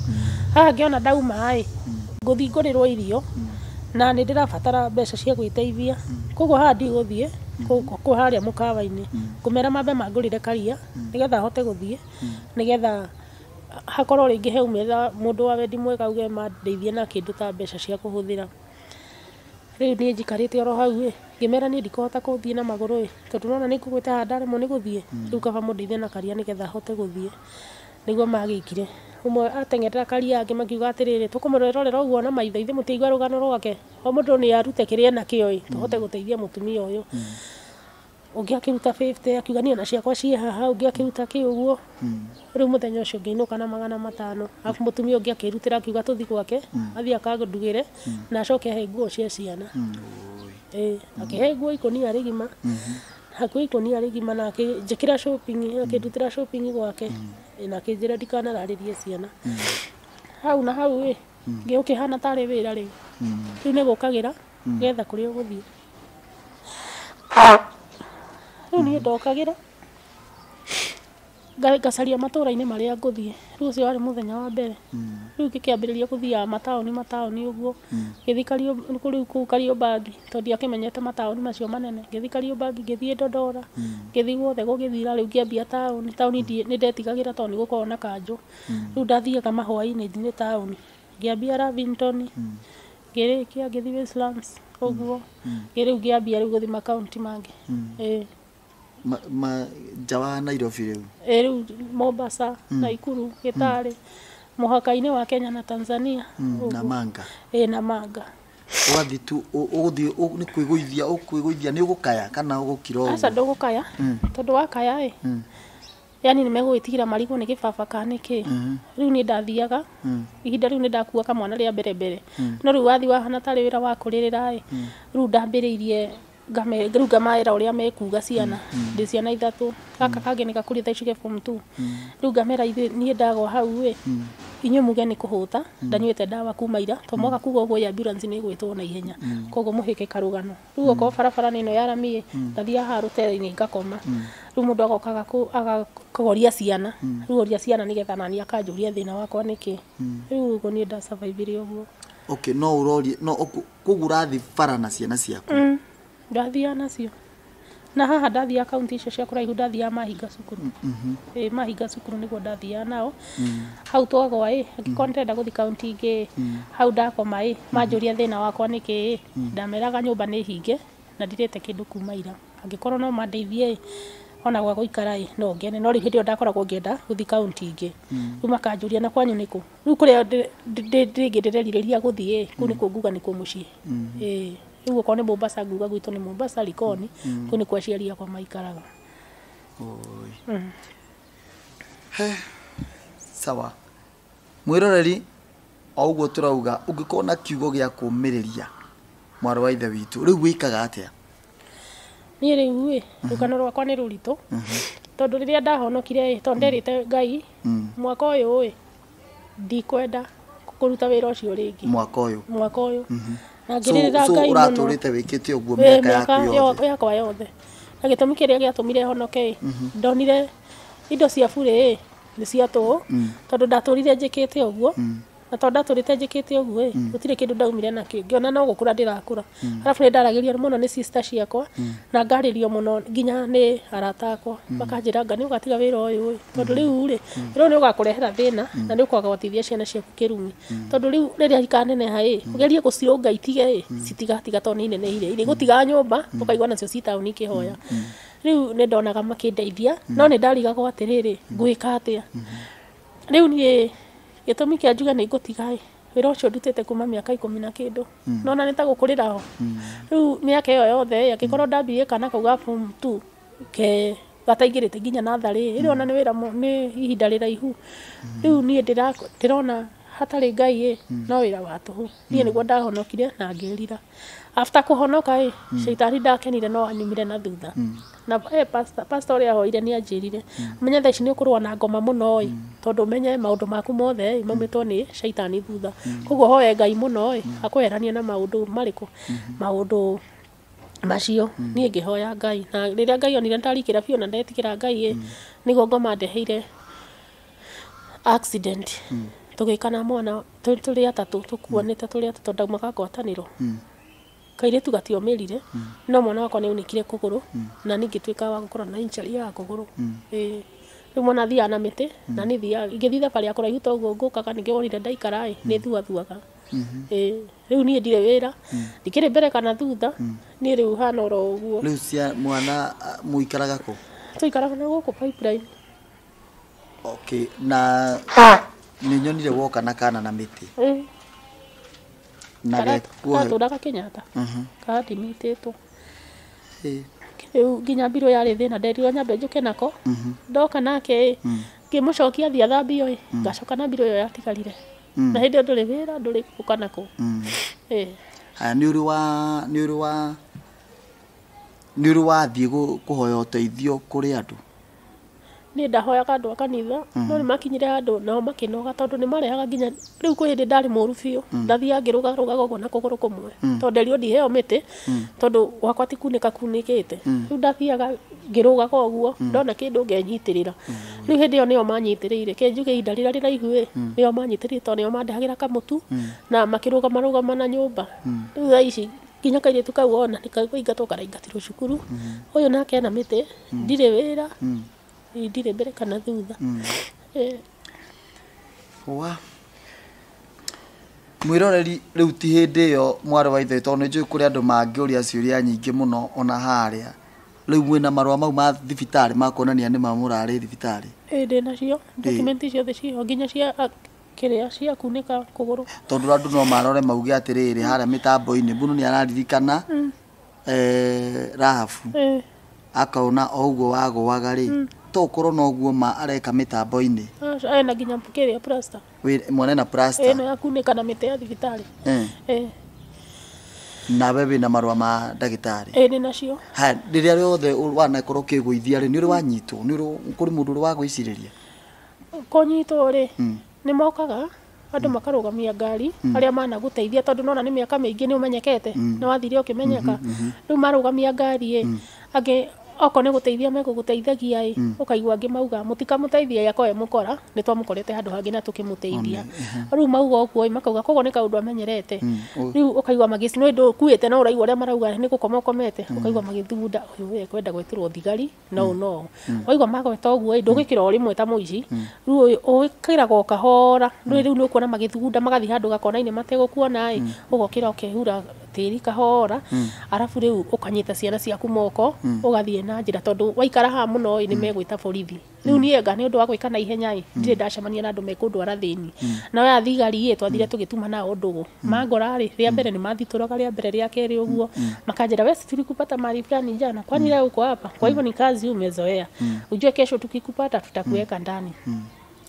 Haha ngĩona ndauma ĩ, ngũthi ngũrĩrwo irio, na nĩ ndĩrabatara mbeca cia gwĩteithia. Kũguo haha ndigũthiĩ kũu harĩa mũkawa-inĩ. Ngũmera mambe mangũrĩre karia, nĩgetha hote gũthiĩ, nĩgetha hakorwo rĩngĩ haumĩra mũndũ wa wendi mwega auge mandeithie na kĩndũ ta mbeca cia kũhũthĩra. Rĩu niĩ njikarĩte oro hau ĩ, ngĩmera niĩ ndikũhota gũthiĩ na magũrũ ĩ, tondũ nĩwona nĩngũgwĩte haha ndaremwo nĩ gũthiĩ, rĩu kaba mũndeithie na karia nĩgetha hote gũthiĩ. Nĩguo magĩkire. Ũmwe ateng'erera karia angĩ makiuga atĩrĩrĩ, tũkũmũrorera ũguo na maitho ithe mũtiaigua rũgano rwake? O mũndũ nĩarute kĩrĩa enakĩo ĩ, tũhote gũteithia mũtumia ũyũ. ũngĩ akĩruta 50 akiuga niĩ na ciakwa ciĩ haha ũngĩ akĩruta kĩ ũguo rĩu mũthenya ũcio ngĩinũka na magana matano arabu mũtumia ũngĩ akĩrutĩra akiuga tũthi gwake athiĩ akandugĩre na acoke ahe nguo cia ciana Ĩĩ, akĩhe nguo ikũnia rĩgima hakuo ikũnia rĩgima na akĩnjĩkĩra shopping akĩndutĩra shopping gwake Ĩĩ, na akĩnjĩra ndikanararĩrie ciana hau na hau ĩ ngĩũkĩhana tarĩ wĩra rĩu rĩu nĩgũkagĩra getha kũrĩa ũgũthiĩ rĩu niĩ ndokagĩra nga- ngacaria matũũra-inĩ marĩa ngũthiĩ rĩu ũcio warĩ mũthenya wa mbere rĩu ngĩkĩambĩrĩria gũthiaga mataũni mataũni ũguo ngĩthiĩ Kariũ- kũ- rĩu kũu kariũmbangi tondũ ndiakĩmenyete mataũni macio manene ngĩthiĩ kariũmbangi ngĩthiĩ ndondora ngĩthiĩ guothe gũgĩthira rĩu ngĩambia taũni taũni ndiĩ- nĩ ndetigagĩra tondũ nĩ gũkoragwo na kanjũ rĩu ndathiaga mahwainĩ nginya taũni ngĩambia Lavington ngĩrĩkia ngĩthiĩ Westlands ũguo rĩu ngĩambia rĩu gũthiĩ makaunti mangĩ ĩĩ Ma, ma, nja wa nairobi rĩu ĩĩ rĩu Mombasa Naikuru Gĩtarĩ mũhaka-inĩ wa Kenya na Tanzania Mm, ũguo. namanga ĩĩ na manga ũgathiĩ tu ũ- ũgũthiĩ ũ- nĩ kwĩgũithia ũkwĩgũithia nĩ ũgũkaya kana ũgũkira aca ũguo ndũgũkaya tondũ wakaya ĩ yani nĩ megũgĩtigĩra marigũ nĩ gĩbaba ka nĩkĩ rĩu niĩ ndathiaga ihinda rĩu nĩ ndakua kamwana rĩa mbere mbere no rĩu wathi wahana tarĩ wĩra wa kũrĩrĩra ĩ rĩu ndambĩrĩirie ngame- rĩu ngamaĩra ũrĩa mekuga ciana ndĩ ciana ithatũ gaka kangĩ nĩ gakũrĩa thaa ici ke form two rĩu ngamera ithuĩ niĩ ndagwa hau ĩ inyuĩ muge nĩ kũhũta ndanyuĩte ndawa kuma ira to mwaga kuga ũguo ĩ ambulance nĩ ĩgwĩtwo na ihenya koguo mũhĩke karũgano rĩu okorwo barabara nĩ ĩno ya rami ĩ ngathiaga haha rũtere-inĩ ngakoma rĩu mũndũ agoka agaku- agakũgoria ciana rĩu oria ciana nĩgetha nani akanjũria thĩna wakwa nĩ kĩ rĩu ũguo niĩ nda survive ire ũguo okay no ũrorie no ũku- koguo ũrathiĩ bara na ciana ciaku ndathiaga nacio na haha ndathiaga kaunti icio cia kũraihu ndathiaga mahinga cukuru ĩ mahinga cukuru nĩguo ndathiaga nao hau twagwa ĩ angĩkorwo nĩtenda gũthi kaunti ingĩ ĩ hau ndakoma ĩ manjũria thĩna wakwa nĩkĩ ĩ ndameraga nyũmba nĩ hinge na ndirĩte kĩndũ kuma ira angĩkorwo no mandeithie ĩ ona gwa gũikara ĩ no ngene no rĩu hĩndĩ ĩyo ndakoragwo ngĩenda gũthi kaunti ingĩ rĩu makanjũria na kwanyu nĩkũ rĩu kũrĩa ndĩ- ndĩ- ndĩ- rĩngĩ ndĩrerirĩria gũthi ĩ kũu nĩkuo nguga nĩkuo mũciĩ ĩ Rĩu okorwo nĩ Mombasa nguga gwitũ nĩ Mombasa Likoni, kũu nĩkuo aciari akwa maikaraga. Oi. He, sawa mwĩroreri o ũguo tũrauga ũngĩkorwo na kiugo gĩa kũmĩrĩria mwarĩ wa ithe witũ rĩu wĩkaga atĩa Niĩ rĩu ĩ, rũgano rwakwa nĩ rũritũ, tondũ rĩrĩa ndahonokire ĩ, tondũ nderĩte Ngai, mwaka ũyũ ĩ, ndikwenda kũruta wĩra ũcio rĩngĩ mwaka ũyũ mwaka ũyũ na so, ngĩrĩrĩra so ngai mũno ũratũrĩte wĩkĩte ũguo Eh, mĩaka mĩaka yaku yo- yothe yakwa yothe na gĩtũmi kĩrĩa gĩatũmire honoke ĩ ndonire indo cia burĩ ĩ nĩ cia tũhũ tondũ ndatũrire njĩkĩte ũguo na tondũ ndatũrĩte njĩkĩte ũguo ĩ gũtirĩ kĩndũ ndaumire nakĩ ngĩona no gũkũra ndĩrakũra arabu nĩ ndaragĩrio mũno nĩ sister ciakwa na ngarĩrio mũno nginya nĩ arata akwa makanjĩra anga nĩ ũgatiga wĩra ũyũ ĩ tondũ rĩu rĩ wĩra ũyũ nĩ ũgakũrehera thĩna na nĩ ũkwaga gũteithia ciana ciaku kĩrumi tondũ rĩu rĩrĩa ikaneneha ĩ ũgerie gũcirũnga itige ĩ citigatiga tondũ nĩ ineneire irĩgũtiga nyũmba ũkaigua nacio ci taũni ikĩhoya rĩu nĩ ndonaga makĩndeithia no nĩ ndarigagwo atĩrĩrĩ ngwĩka atĩa rĩu niĩ gĩtũmi kĩa njuge nĩ ngũtiga ĩ wĩra ũcio ndutĩte kuma mĩaka ikũmi na kĩndũ mm. nona nĩ ta gũkũrĩra ho mm. rĩu mĩaka ĩyo yothe angĩkorwo mm. ndambirie kana kau ga form two ke gataingĩrĩte nginya natharĩ ĩrĩ mm. ona nĩ wĩra nĩ ihinda rĩraihu mm. rĩu niĩ ndĩrona hatarĩ ngai ĩ mm. no wĩra wa tũhũ niĩ mm. nĩguo ndahonokire na ngĩrira after kũhonoka ĩ mm. shaitani ndakenire no anyumire na thutha mm. na eh, pastor pastor ũrĩa hoire nĩ anjĩrire mm. menya thaa ici nĩ ũkũrũa na ngoma mũno ĩ mm. tondũ menye maũndũ maku mothe ĩ maumĩtwo nĩ shaitani thutha mm. koguo hoye ngai mũno ĩ mm. akweherania na maũndũ marĩkũ mm -hmm. maũndũ macio mm. niä ngä hoya ngai na rä rä a ngai onire ndarikira biå na ndetikira ngai ä mm. nä guo ngoma ndeheire Accident. Tũgĩka na mwana twĩ tũrĩ atatũ tũkuanĩte tũrĩ atatũ tondũ ndaumaga ngwatanĩro. Kairĩtu gatiomĩrire no mwana wakwa nĩaunĩkire kũgũrũ na niĩ ngĩtuĩka wa gũkorwo na injury ya kũgũrũ. Ĩĩ. Rĩu mwana athiaga na mĩtĩ na niĩ thiaga ingĩthiĩ thabarĩ ya kũraihu ta ũguo ngũkaga ningĩ wonire ndaikara ĩ, nĩthuathuaga. Ĩĩ. Rĩu niĩ ndirĩ wĩra, ndikĩrĩ mbere kana thutha, niĩ rĩu hana oro ũguo. Rĩu cia mwana a, mũikaraga kũ? Twaikaraga na gũkũ pipeline. okay na nä nyonire woka na kana na mä tä Eh, na kara- gekuohe karatũraga kenyatta karathimĩtĩtwo rĩu nginya mbirũ yarĩ thĩna nderirwo nyambe njũke nako ndoka nake ngĩmũcokia thiĩ athambio ĩ ngacoka na mbirũ ĩyo yatigarire na hĩndĩ ĩyo ndũrĩ wĩra ndũrĩ gũka nakũ Eh, haya nä å rä wa nä å rä wa nä å rä wathiä kå hoya å teithio kå rä andå Niĩ ndahoyaga andũ a kanitha, no nĩ makinyire handũ nao makĩnoga tondũ nĩ marehaga nginya, rĩu kwĩ hĩndĩ ndarĩ mũru biũ, ndathiaga ngĩrũgarũgaga ũguo na kũgũrũ kũmwe, tondũ nderirwo ndiheo mĩtĩ, tondũ gwakwa ti kunĩka kunĩkĩte. Rĩu ndathiaga ngĩrũgaga ũguo, ndona kĩndũ ngenyitĩrĩra. Rĩu hĩndĩ ĩyo nĩo manyitĩrĩire. Reke njuge ihinda rĩrĩa rĩraihu ĩĩ, nĩo manyitĩrĩire tondũ nĩo mandehagĩra kamũtu, na makĩrũgama rũgama na nyũmba. Rĩu thaa ici... Nginya kairĩtu kau wona nĩ kũingatwo karaingatirwo cukuru. Ũyũ nake ena mĩtĩ, ndirĩ wĩra, ĩĩ ndirĩ mbere kana thutha. Ĩĩ. Wa. Mwĩroreri rĩu ti hĩndĩ ĩyo mwarĩ wa ithe tondũ nĩ njũĩ kũrĩ andũ mangĩũria ciũria nyingĩ mũno ona harĩa. Rĩu mwĩna marũa mau ma thibitarĩ ma kuonania nĩ ma mũrarĩ thibitarĩ? Ĩĩ ndĩ nacio, document ciothe ciĩ ho nginya cia Kĩrĩa ciakunĩka kũgũrũ. Tondũ andũ no marore mauge atĩrĩrĩ harĩa mĩtambo-inĩ mbũnũ nĩ araririkana eh, Rahabu Eh, akaona o ũguo wagũaga rĩ to ũkorwo no ũguo ma areka mĩtambo-inĩ aca- ena nginya kĩrĩa plaster. Wĩ- mwene na plasta Ĩno yakunĩka na mĩtĩ ya thibitarĩ. eh, Eh, nawe wĩ na marũa ma ndagĩtarĩ eh, nĩ nacio. haya rĩrĩa rĩothe ũ- wanakorwo ũkĩgũithia rĩ nĩ ũrĩ wanyitwo nĩ ũrĩ kũrĩ mũndũ ũrĩ wagwĩcirĩria kũnyitwo-rĩ, mm. nĩ mokaga andũ mm. makarũgamia ngari mm. arĩa managũteithia tondũ nona nĩ mĩaka mĩingĩ nĩ ũmenyekete mm. nĩ wathire ũkĩmenyeka mm -hmm. rĩu marũgamia ngari ĩ mm. angĩ okorwo nĩ gũteithia megũgũteithagia ĩ mm. ũkaigua angĩ mauga mũtikamũteithia ĩrĩa koe mũkora nĩ twamũkorete handũ hangĩ na tũkĩmũteithia mm-hmm. rĩu mauga ũguo makauga koguo nĩ kaũndũ amenyerete mm, rĩu ũkaigua magĩci nĩ ũndũ ũkuĩte no ũraigua ũrĩa marauga nĩ gũkoma ũkomete mm. ũkaigua magĩthugunda ũyũ we kwenda gwĩtĩrwo thigari no no waigua magweta ũguo ĩ ndũgĩkĩra o rĩmwe ta mũici rĩu ũyũ ũgĩkĩraga o kahora rĩu rĩu nĩ ũkuona magĩthugunda magathiĩ handũ gakona-inĩ mategũkuona ĩ ũgokĩra ũkehura tĩri kahora arabu rĩu ũkanyita ciana ciaku moko ũgathiĩ na njĩra tondũ waikara haha mũno ĩ nĩ megwĩta borithi rĩu niĩ anga nĩ ũndũ wa gwĩka na ihenya ĩ ndirĩ ndacemania na andũ mekũndwara thĩni nao aya thigari ĩ twathire tũgĩtuma nao ndũgũ mangora-rĩ rĩa mbere nĩ mathitũraga rĩa mbere rĩa kerĩ ũguo makanjĩra wewe si tulikupata mahali fulani jana kwani leo uko hapa kwa hivyo ni kazi umezoea ujue kesho tukikupata tutakuweka ndani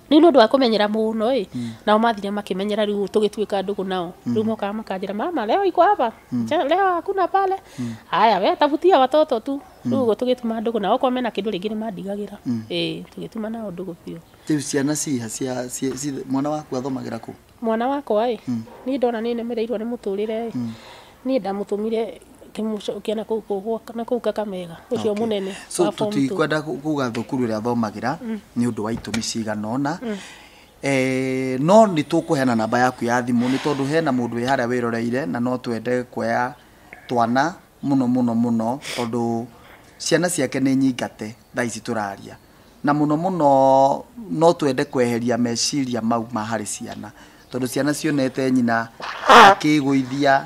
rĩu nĩ ũndũ wa kũmenyera mũno ĩ nao mathire makĩmenyera rĩu tũgĩtuĩka ndũgũ nao rĩu mokaga makanjĩra mama leo iko hapa Ja- leo hakuna pale haya we tafutia watoto tu rĩu ũguo tũgĩtuma ndũgũ nao okorwo mena kĩndũ rĩngĩ nĩ mandigagĩra ĩ tũgĩtuma nao ndũgũ biũ rĩu ciana ciha cia ci- ci- mwana waku athomagĩra kũ Mwana wakwa ĩ, niĩ ndona nĩ nemereirwo nĩ mũtũrĩre ĩ, niĩ ndamũtũmire ngĩmũcokia na kũu kũ- gwa- na kũu Kakamega, ũcio Okay. mũnene so wa form two. tũtikwenda ku- kuga thukuru ĩrĩa thomagĩra nĩ ũndũ wa itũmi cigana ũna Eh, no nĩ tũkũheana namba yaku ya thimũ nĩ tondũ hena mũndũ wĩ harĩa wĩroreire na no twende kuoya twana mũno mũno mũno tondũ ciana ciake nĩ nyingate thaa ici tũraria na mũno mũno no twende kweheria meciria mau ma harĩ ciana tondũ ciana cionete nyina akĩgũithia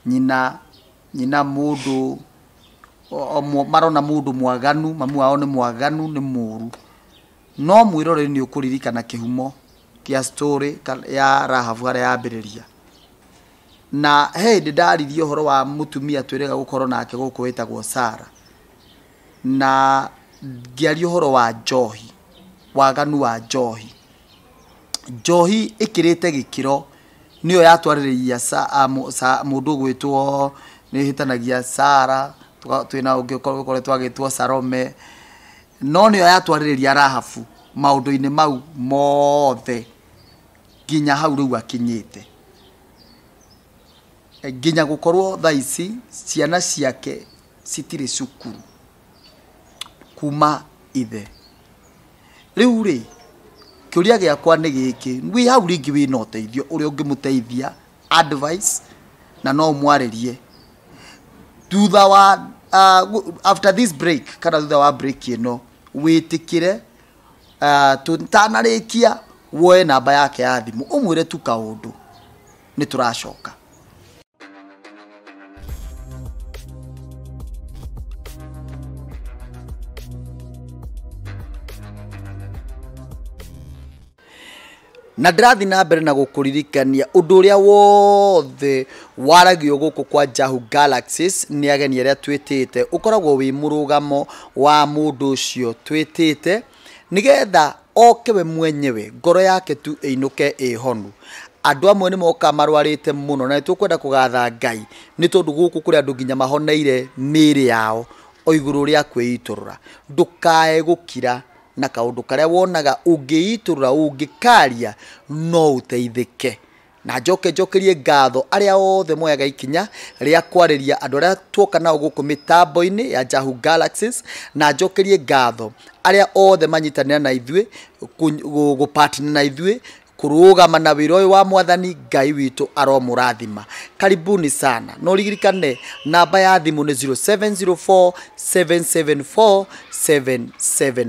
nyina nyina mũndũ o- o mũ- marona mũndũ mwaganu mamu wao nĩ mwaganu nĩ mũru no mwĩrore nĩ ũkũririkana kĩhumo kĩa story ka- ya rahabu harĩa yambĩrĩria Na he hĩndĩ ndaririe ũhoro wa mũtumia twĩrĩga gũkorwo nake gũkũ wĩtagwo Sara, na ngĩaria ũhoro wa njohi, waganu wa njohi. Njohi ĩkĩrĩte gĩkĩro nĩyo yatwarĩrĩire mũndũ ũgwĩtwo, nĩ hĩtanagia, Sara, twĩ na ũngĩ ũkoretwo agĩtwo Sarome, no nĩyo yatwarĩrĩria Rahabu maũndũ-inĩ mau mothe, nginya hau rĩu akinyĩte Eh, nginya gũkorwo thaa ici ciana ciake citirĩ cukuru kuma ithe rĩu rĩ kĩũria gĩakwa nĩ gĩkĩ wĩ hau rĩngĩ wĩna ũteithio ũrĩa ũngĩmũteithia advice na no ũmwarĩrie thutha wa uh, after this break kana thutha wa break ĩno wĩtĩkĩre Ah, tũtanarĩkia woe namba yake ya thimũ ũmwĩre tu kaũndũ nĩ tũracoka Na ndĩrathiĩ na mbere na gũkũririkania ũndũ ũrĩa wothe waragio gũkũ kwa Jahu Galaxies nĩ ageni arĩa twĩtĩte, ũkoragwo wĩ mũrũgamo wa mũndũ ũcio twĩtĩte, nĩgetha oke we mwenyewe, ngoro yake tu ĩinũke ĩ honu. Andũ amwe nĩ mokaga marwarĩte mũno, na nĩ tũkwenda kũgatha Ngai, nĩ tondũ gũkũ kũrĩ andũ nginya mahoneire mĩĩrĩ yao o igũrũ rĩa kwĩitũrũra. Ndũkae gũkira. Na kaũndũ karĩa wonaga ũngĩitũrũra ũngĩkaaria no ũteithĩke. Na njoke njokerie ngatho arĩa othe moyaga ikinya rĩa kwarĩria andũ arĩa tuoka nao gũkũ mĩtambo-inĩ ya Jahu Galaxies, na njokerie ngatho arĩa othe manyitanĩra na ithuĩ, gũ partner na ithuĩ kũrũgama na wĩra ũyũ wa mwathani ngai witũ aromũrathima karibuni sana no ririkane namba ya thimũ nĩ 0704 774 774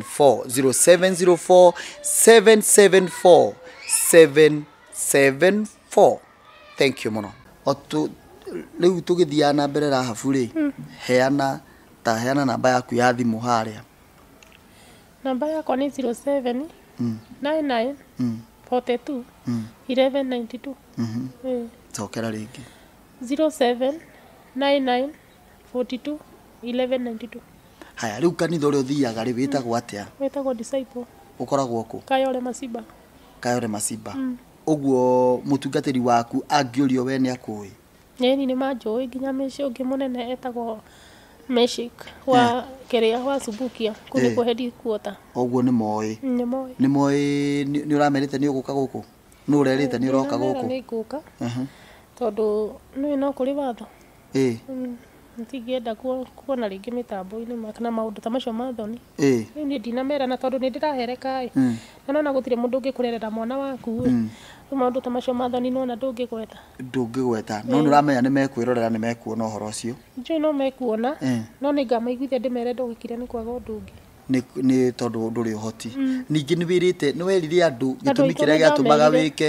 0704 774 774 thank you mũno O tu- rĩu tũgĩthiaga na mbere rahabu rĩ heana ta heana namba yaku ya thimũ harĩa Namba yakwa nĩ 0799421192. Cokera rĩngĩ. 0799421192. Haya, rĩu kanitha ũrĩa ũthiaga rĩ wĩtagwo atĩa? Wĩtagwo Disciple Ũkoragwo kũ? Kayole Masiba. Kayole Masiba. Ũguo mũtungatĩri waku angĩũrio we nĩ akũĩ? Ĩĩni nĩ manjũĩ nginya mĩciĩ ũngĩ mũnene etagwo Meshik wa kĩrĩa wa Subukia kũu nĩkuo headquarter. Koguo nĩ moĩ. Nĩ moĩ. Nĩ moĩ nĩ nĩ ũramerĩte nĩ ũgũka gũkũ? Nũ ũrerĩte nĩ ũroka Ndĩramera gũkũ? nĩ ngũka Aha. tondũ nĩũĩ no kũrĩ watho. Ĩĩ. Ndingĩenda kuona rĩngĩ mĩtambo-inĩ na maũndũ ta macio ma thoni. Rĩu niĩ ndinamerana tondũ nĩ ndĩrahereka ĩ, na nĩ wona gũtirĩ mũndũ ũngĩkũrerera mwana waku ĩ. Rĩu maũndũ ta macio ma thoni nĩ wona ndũngĩgweta. Ndũngĩgweta. No nĩ ũramenya nĩ mekwĩrorera nĩ mekuona ũhoro ũcio. Njũĩ no mekuona, no nĩ ngamaiguithia ndĩmere ndũgĩkire nĩ kwaga ũndũ ũngĩ. Nĩ tondũ ndũrĩ ũhoti. Ningĩ nĩ wĩrĩte, nĩ werire andũ gĩtũmi kĩrĩa gĩatũmaga wĩke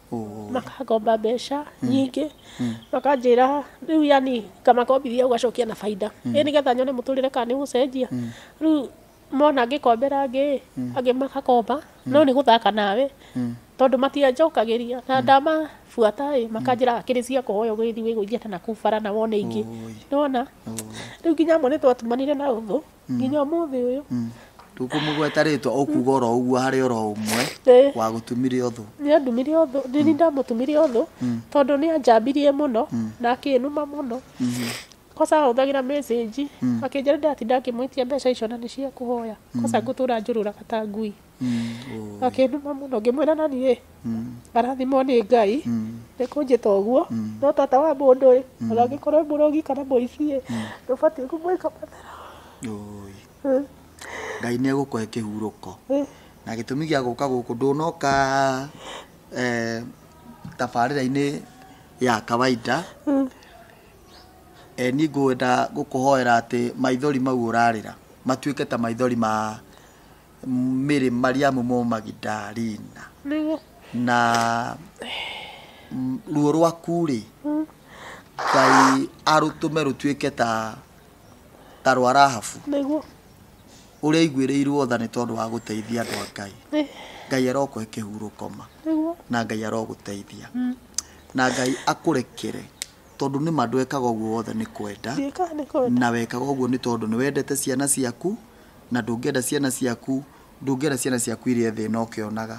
makangomba mbeca nyingĩ makanjĩra rĩu yani ngamakombithia ũgacokia na bainda ĩ nĩgetha nyone mũtũrĩre kana nĩ gũcenjia rĩu mona ngĩkombera angĩ angĩ magakomba no nĩ gũthaka nawe tondũ matianjokagĩria na ndamabuata ĩ makanjĩra hakĩrĩ cia kũhoya ũgĩthiĩ wĩgũithie ta nakũu bara na wone ingĩ nĩwona rĩu nginya amwe nĩ twatumanire na ũthũ nginya ũmũthĩ ũyũ tũkũmũgweta rĩtwa ũkuga oro ũguo harĩ oro ũmwe Ĩĩ. wa gũtumire ũthũ nĩ andumire ũthũ nĩ nĩ ndamũtumire ũthũ tondũ nĩ anjambirie mũno na akĩnuma mũno kosa ahũthagĩra message akĩnjĩra ndatinda ngĩmwĩtia mbeca icio na nĩ cia kũhoya kosa ngũtũra njũrũraga ta ngui akĩnuma mũno ngĩmwĩra nani rĩ arathimwo nĩ ngai nĩ kũnjĩta ũguo no tata wa mũndũ ĩ ona angĩkorwo e mũrogi kana mũici ĩ ndũbatiĩ kũmwĩka mathara Ũũi. Eh, ngai nä egå kåhe kä hurå eh. na gä tå mi gä a gå ka gå kå ndå noka tabarä ra-inä ya kawaida e, niä ngå enda gå kå hoera atä maithori mau å rarä ra matuä ke ta maithori ma Mĩrĩ Mariamu mo Magidalina Nĩguo. na m- ruo rwaku rĩ ngai arũtũme rũtuĩke ta ta rwa rahabu Nĩguo. ũrĩa aiguĩrĩirwo tha nĩ tondũ wa gũteithia andũ a ngai Ĩ. ngai arokũhe kĩhurũkoma Nĩguo. na ngai arogũteithia na ngai akũrekere tondũ nĩ ma ndwekaga ũguo wothe nĩ kwenda Ndiĩkaga nĩ kwenda. na wekaga ũguo nĩ tondũ nĩ wendete ciana ciaku na ndũngĩenda ciana ciaku ndũngĩenda ciana ciaku irie thĩna ũkĩonaga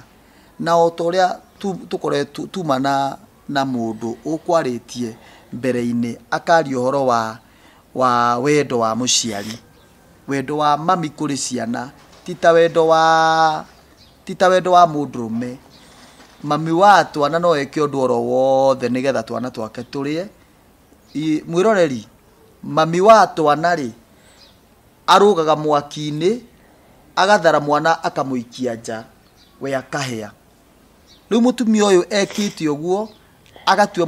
na o ta ũrĩa tu- tũkoretwo tuma na na mũndũ ũkwarĩtie mbere-inĩ akaria ũhoro wa wa wendo wa mũciari wendo wa mami kũrĩ ciana ti ta wendo wa ti ta wendo wa mũndũrũme mami wa twana no eke ũndũ oro wothe nĩgetha twana twake tũrĩe I- mwĩroreri mami wa twana rĩ Arũgaga mwaki-inĩ, agathara mwana akamũikia nja, we akahĩa. Rĩu mũtumia ũyũ ekĩte ũguo, agatua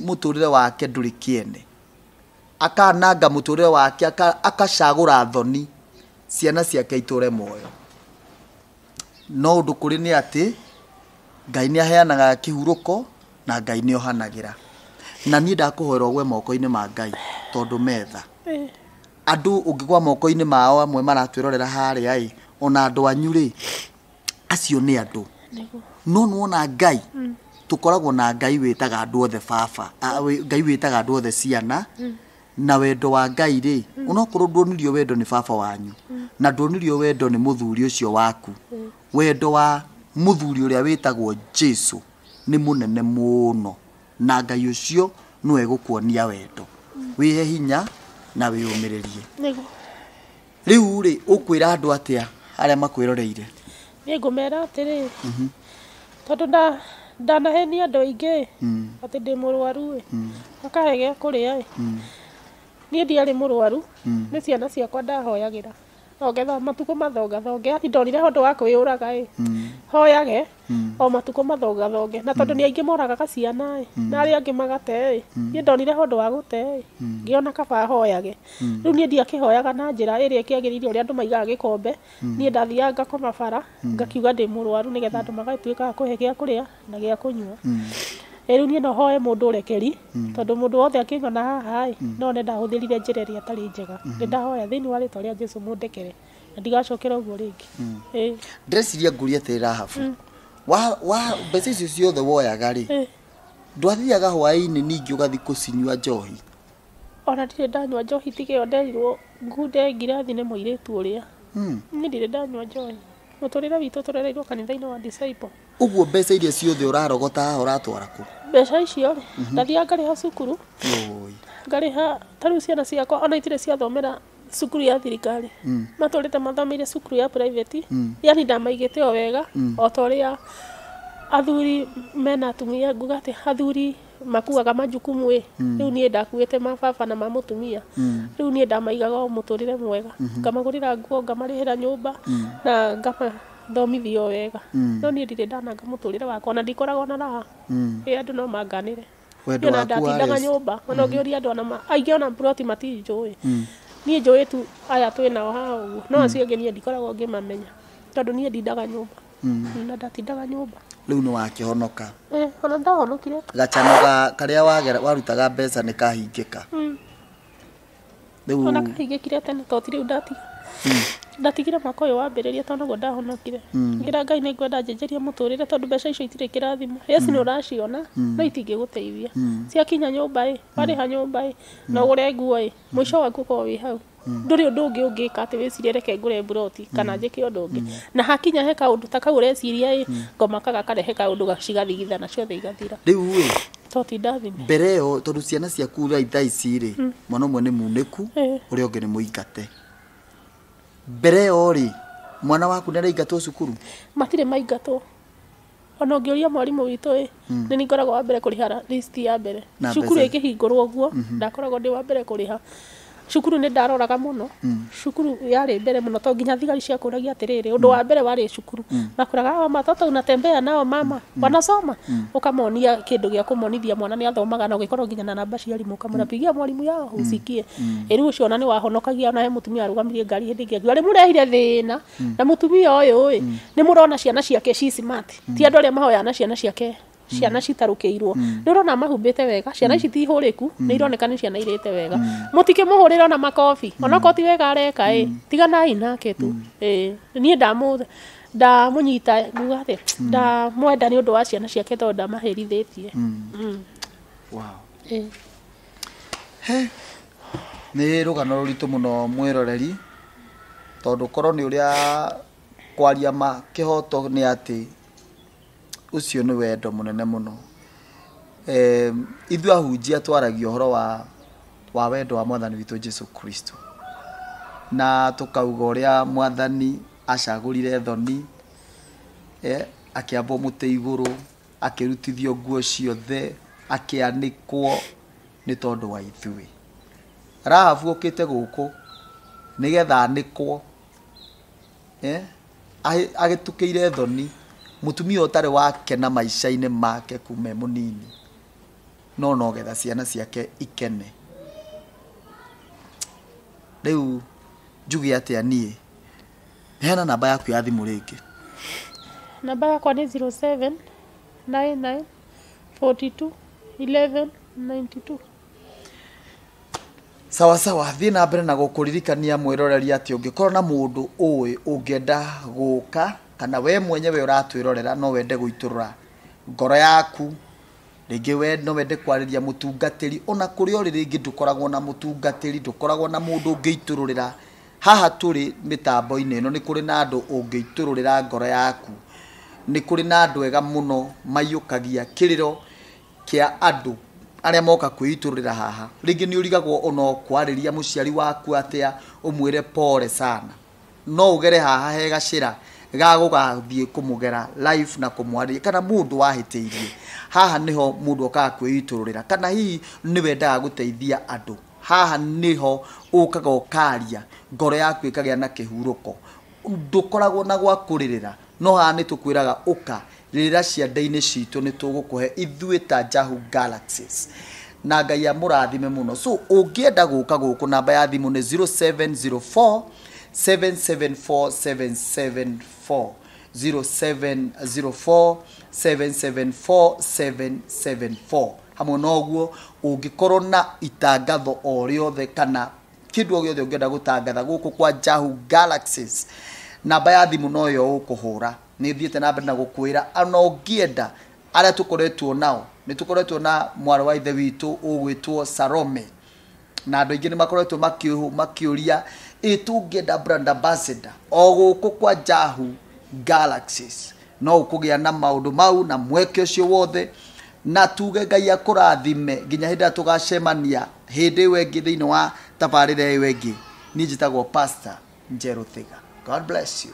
mũtũrĩre wake ndũrĩ kĩene. Akananga mũtũrĩre wake, akacagũra thoni, ciana ciake itũre muoyo. No ũndũ kũrĩ nĩ atĩ, Ngai nĩ aheanaga kĩhurũko, na Ngai nĩ ohanagĩra. Na niĩ ndakũhoera ũgwe moko-inĩ ma Ngai, tondũ me tha. Andũ ũngĩgwa moko-inĩ mao amwe maratwĩrorera harĩa ĩ ona andũ anyu rĩ acio nĩ andũ no nuona ngai mm. tũkoragwo na ngai wĩtaga andũ othe baba ngai wĩtaga andũ othe ciana mm. na wendo wa ngai rĩ mm. onokorwo nduonirio wendo nĩ baba wanyu na nduonirio wendo nĩ mũthuri ũcio waku wendo wa mũthuri ũrĩa wĩtagwo jesu nĩ mũnene mũno na ngai ũcio nĩwe gũkuonia wendo wĩhe hinya na wĩyũmĩrĩrie Nĩgu- rĩu rĩ ũkwĩra andũ atĩa arĩa makwĩroreire nĩngũmera atĩrĩ tondũ nda- ndanahenia andũ aingĩ atĩ ndĩ mũrwaru ĩ makahe gĩa kũrĩa ĩ niĩ ndiarĩ mũrwaru nĩ ciana ciakwa ndahoyagĩra Thonge tho, matukũ mathonga thonge, ati ndonire ũndũ wa kwĩyũraga ĩ, hoyage o matukũ mathonga thonge, na tondũ nĩ aingĩ moragaga ciana ĩ, na arĩa angĩ magate ĩ, niĩ ndonire ũndũ wa gũte ĩ, ngĩona kaba hoyage. Rĩu niĩ ndiakĩhoyaga na njĩra ĩrĩa ĩkĩagĩrĩire ũrĩa andũ maigaga gĩkombe, niĩ ndathiaga ngakoma bara, ngakiuga ndĩ mũrwaru nĩgetha andũ magagĩtuĩka a kũhe gĩa kũrĩa, na gĩa kũnyua rĩu niĩ no hoe mũndũ ũrekeri tondũ mũndũ wothe akĩng'ona haha ĩ no one ndahũthĩrire njĩra ĩrĩa ĩtarĩ njega nĩ ndahoya thĩinĩ wa rĩtwa rĩa jesu mũndekere na ndigacokera ũguo rĩngĩ Ĩĩ. ndĩreciria ngũria atĩrĩ rahabu wa wa mbeca icio ciothe woyaga rĩ Ĩĩ. ndwathiaga hwaĩ-inĩ ningĩ ũgathi kũcinyua njohi ona ndirĩ ndanyua njohi tiga ĩyo nderirwo ngunde ngirathi nĩ mũirĩtu ũrĩa Hmm. niĩ ndirĩ ndanyua njohi mũtũrĩre witũ tũrereirwo kanitha-inĩ wa disciple Ũguo mbeca iria ciothe ũrarogota haha ũratwara kũ? Mbeca icio rĩ, ndathiaga ngarĩha cukuru, Yoi. ngarĩha ta rĩu ciana ciakwa ona itirĩ ciathomera cukuru ya thirikari matũrĩte mathomeire cukuru ya private yani ndamaigĩte o wega o ta ũrĩa athuri mena atumia nguga atĩ athuri makuaga majukumu ĩ rĩu niĩ ndakuĩte ma baba na ma mũtumia rĩu niĩ ndamaigaga o mũtũrĩre mwega ngamagũrĩra nguo ngamarĩhĩra nyũmba na ngama thomithio wega no niĩ ndirĩ ndananga mũtũrĩre wakwa na ndikoragwo na raha ĩ andũ no manganĩre Wendo Niĩ ona waku wa ndatindaga res- nyũmba ona ũngĩũria andũ ona ma- aingĩ ona ploti matinjũĩ niĩ njũĩ tu aya twĩ nao haha ũguo no acio angĩ niĩ ndikoragwo ngĩmamenya tondũ niĩ ndindaga nyũmba na ndatindaga nyũmba rĩu nĩ wakĩhonoka Eh, ona ndahonokire gacano ga karĩa wagera- warutaga mbeca nĩ kahingĩka Rĩu ona kahingĩkire tene to ti rĩu ndatiga ndatigire mwaka ũyũ wambĩrĩria tondũ naguo ndahonokire ngira ngai nĩ ngwenda njenjerie mũtũrĩre tondũ mbeca icio itirĩ kĩrathimo yes nĩ ũraciona no itingĩgũteithia ciakinya nyũmba ĩ warĩha nyũmba ĩ na ũgũre nguo ĩ mũico waku ũkorwo wĩ hau ndũrĩ ũndũ ũngĩ ũngĩka atĩ wĩcirie reke ngũre mburoti kana njĩke ũndũ ũngĩ na hakinya he kaũndũ ta kau ũreciria ĩ ngomaka gakarehe kaũndũ cigathigithana ciothe igathira rĩu ĩ To ti ndathime. mbere ĩyo tondũ ciana ciaku thaa thaa ici rĩ mwana ũmwe nĩ munĩku Eh. ũrĩa ũngĩ nĩ mũingate mbere ĩyo rĩ mwana waku nĩ araingatwo cukuru Matirĩ maingatwo. Ona ũngĩũria mwarimũ witũ ĩ, nĩ niĩ ngoragwo wa mbere kũrĩha ra- list ya mbere. Na Cukuru mbeca. ĩkĩhingũrwo ũguo, ndakoragwo ndĩ wa mbere kũrĩha. cukuru nĩ ndaroraga mũno cukuru yarĩ mbere mũno to nginya thigari ciakũragia atĩrĩrĩ ũndũ wa mbere warĩ cukuru makoraga hawa matoto unatembea nao mama wanasoma ũkamonia kĩndũ gĩa kũmonithia mwana nĩ athomaga na ũgĩkorwo nginya na namba cia arimũ ũkamwĩra pigia mwarimũ yao usikie rĩu ũcio ona nĩ wahonokagia ona he mũtumia warũgamirie ngari hĩndĩ ĩngĩ akiuga nĩmũrehire thĩna na mũtumia ũyũ ĩ nĩmũrona ciana ciake ci smart ti andũ arĩa mahoyaga na ciana ciake ciana citarũkĩirwo nĩ ũrona mahumbĩte wega ciana ici ti hũrĩku nĩ ironeka nĩ ciana irĩte wega mũtikĩmũhũrĩre ona makobi onakorwo ti wega areka ĩ tiganai nake tu ĩ niĩ ndamũ ndamũnyita nguga atĩ ndamwenda nĩ ũndũ wa ciana ciake tondũ ndamahĩrithĩtie Mm. wow. Ĩ. nä rå gano rå ritå må no mwä roreri tondå korwo nä å rä a kwaria ma kä hoto nä atä Ũcio nĩ wendo mũnene mũno. Em, Ithuĩ ahunjia twaragia ũhoro wa, wa wendo wa mwathani witũ Jesu Kristo na tũkauga ũrĩa mwathani acagũrire thoni eh, akĩambwo mũtĩ igũrũ akĩrutithio nguo ciothe akĩanĩkwo nĩ tondũ wa ithuĩ rahabu ũkĩte gũkũ nĩgetha anĩkwo eh, ahĩ- agĩtukĩire thoni mũtumia ũtarĩ wake na maica-inĩ make kuma e mũnini no nogetha ciana ciake ikene rĩu njuge atĩa niĩ heana namba yaku ya thimũ rĩngĩ namba yakwa nĩ 07 99 42 11 92 sawa sawa thiĩ na mbere na gũkũririkania mwĩroreria atĩ ũngĩkorwo na mũndũ ũĩ ũngĩenda gũka kana we mwenyewe ũratwĩrorera no wende gũitũrũra ngoro yaku rĩngĩ we no wende kwarĩria mũtungatĩri ona kũrĩa ũrĩ rĩngĩ ndũkoragwo na mũtungatĩri ndũkoragwo na mũndũ ũngĩitũrũrĩra haha tũrĩ mĩtambo-inĩ ĩno nĩ kũrĩ na andũ ũngĩitũrũrĩra ngoro yaku nĩ kũrĩ na andũ ega mũno maiyũkagia kĩrĩro kĩa andũ arĩa moka kwĩitũrũrĩra haha. Rĩngĩ nĩ ũrigagwo o no kwarĩria mũciari waku atĩa ũmwĩre pole sana. No ũgere haha he gacĩra ga gũgathiĩ kũmũgera live na kũmwarĩria kana mũndũ wahĩtĩirie. Haha nĩho mũndũ okaga kwĩitũrũrĩra kana hihi nĩ wendaga gũteithia andũ. Haha nĩho ũkaga ũkaria ngoro yaku ĩkagĩa na kĩhurũko. Ndũkoragwo na gwa kũrĩrĩra, No haha nĩ tũkwĩraga ũka, rĩrĩra cianda-inĩ citũ nĩ tũgũkũhe ithuĩ ta Jahu Galaxies. Na Ngai amũrathime mũno. So ũngĩenda gũka gũkũ namba ya thimũ nĩ 0704 774 774. 0704 774 774. Hamwe na ũguo ũngĩkorwo na itangatho o rĩothe kana kĩndũ o gĩothe ũngĩenda gũtangatha gũkũ kwa Jahu Galaxies. Namba ya thimũ no yo ũkũhũra. Nĩ thiĩte na mbere na gũkwĩra ona ũngĩenda arĩa tũkoretwo nao nĩ tũkoretwo na mwarĩ wa ithe witũ ũgwĩtwo Salome na andå aingä nä makoretwo makä å ria ä tå ngä enda brand ambassador o gå kå kwa jahu galaxies No ũkũgĩa na maũndũ mau na mweke ũcio wothe, na tuge Ngai akũrathime nginya hĩndĩ ĩrĩa tũgacemania hĩndĩ ĩyo ĩngĩ thĩinĩ wa tabarĩra ĩyo ĩngĩ. Niĩ njĩtagwo Pastor Njerũ Thiga. God bless you.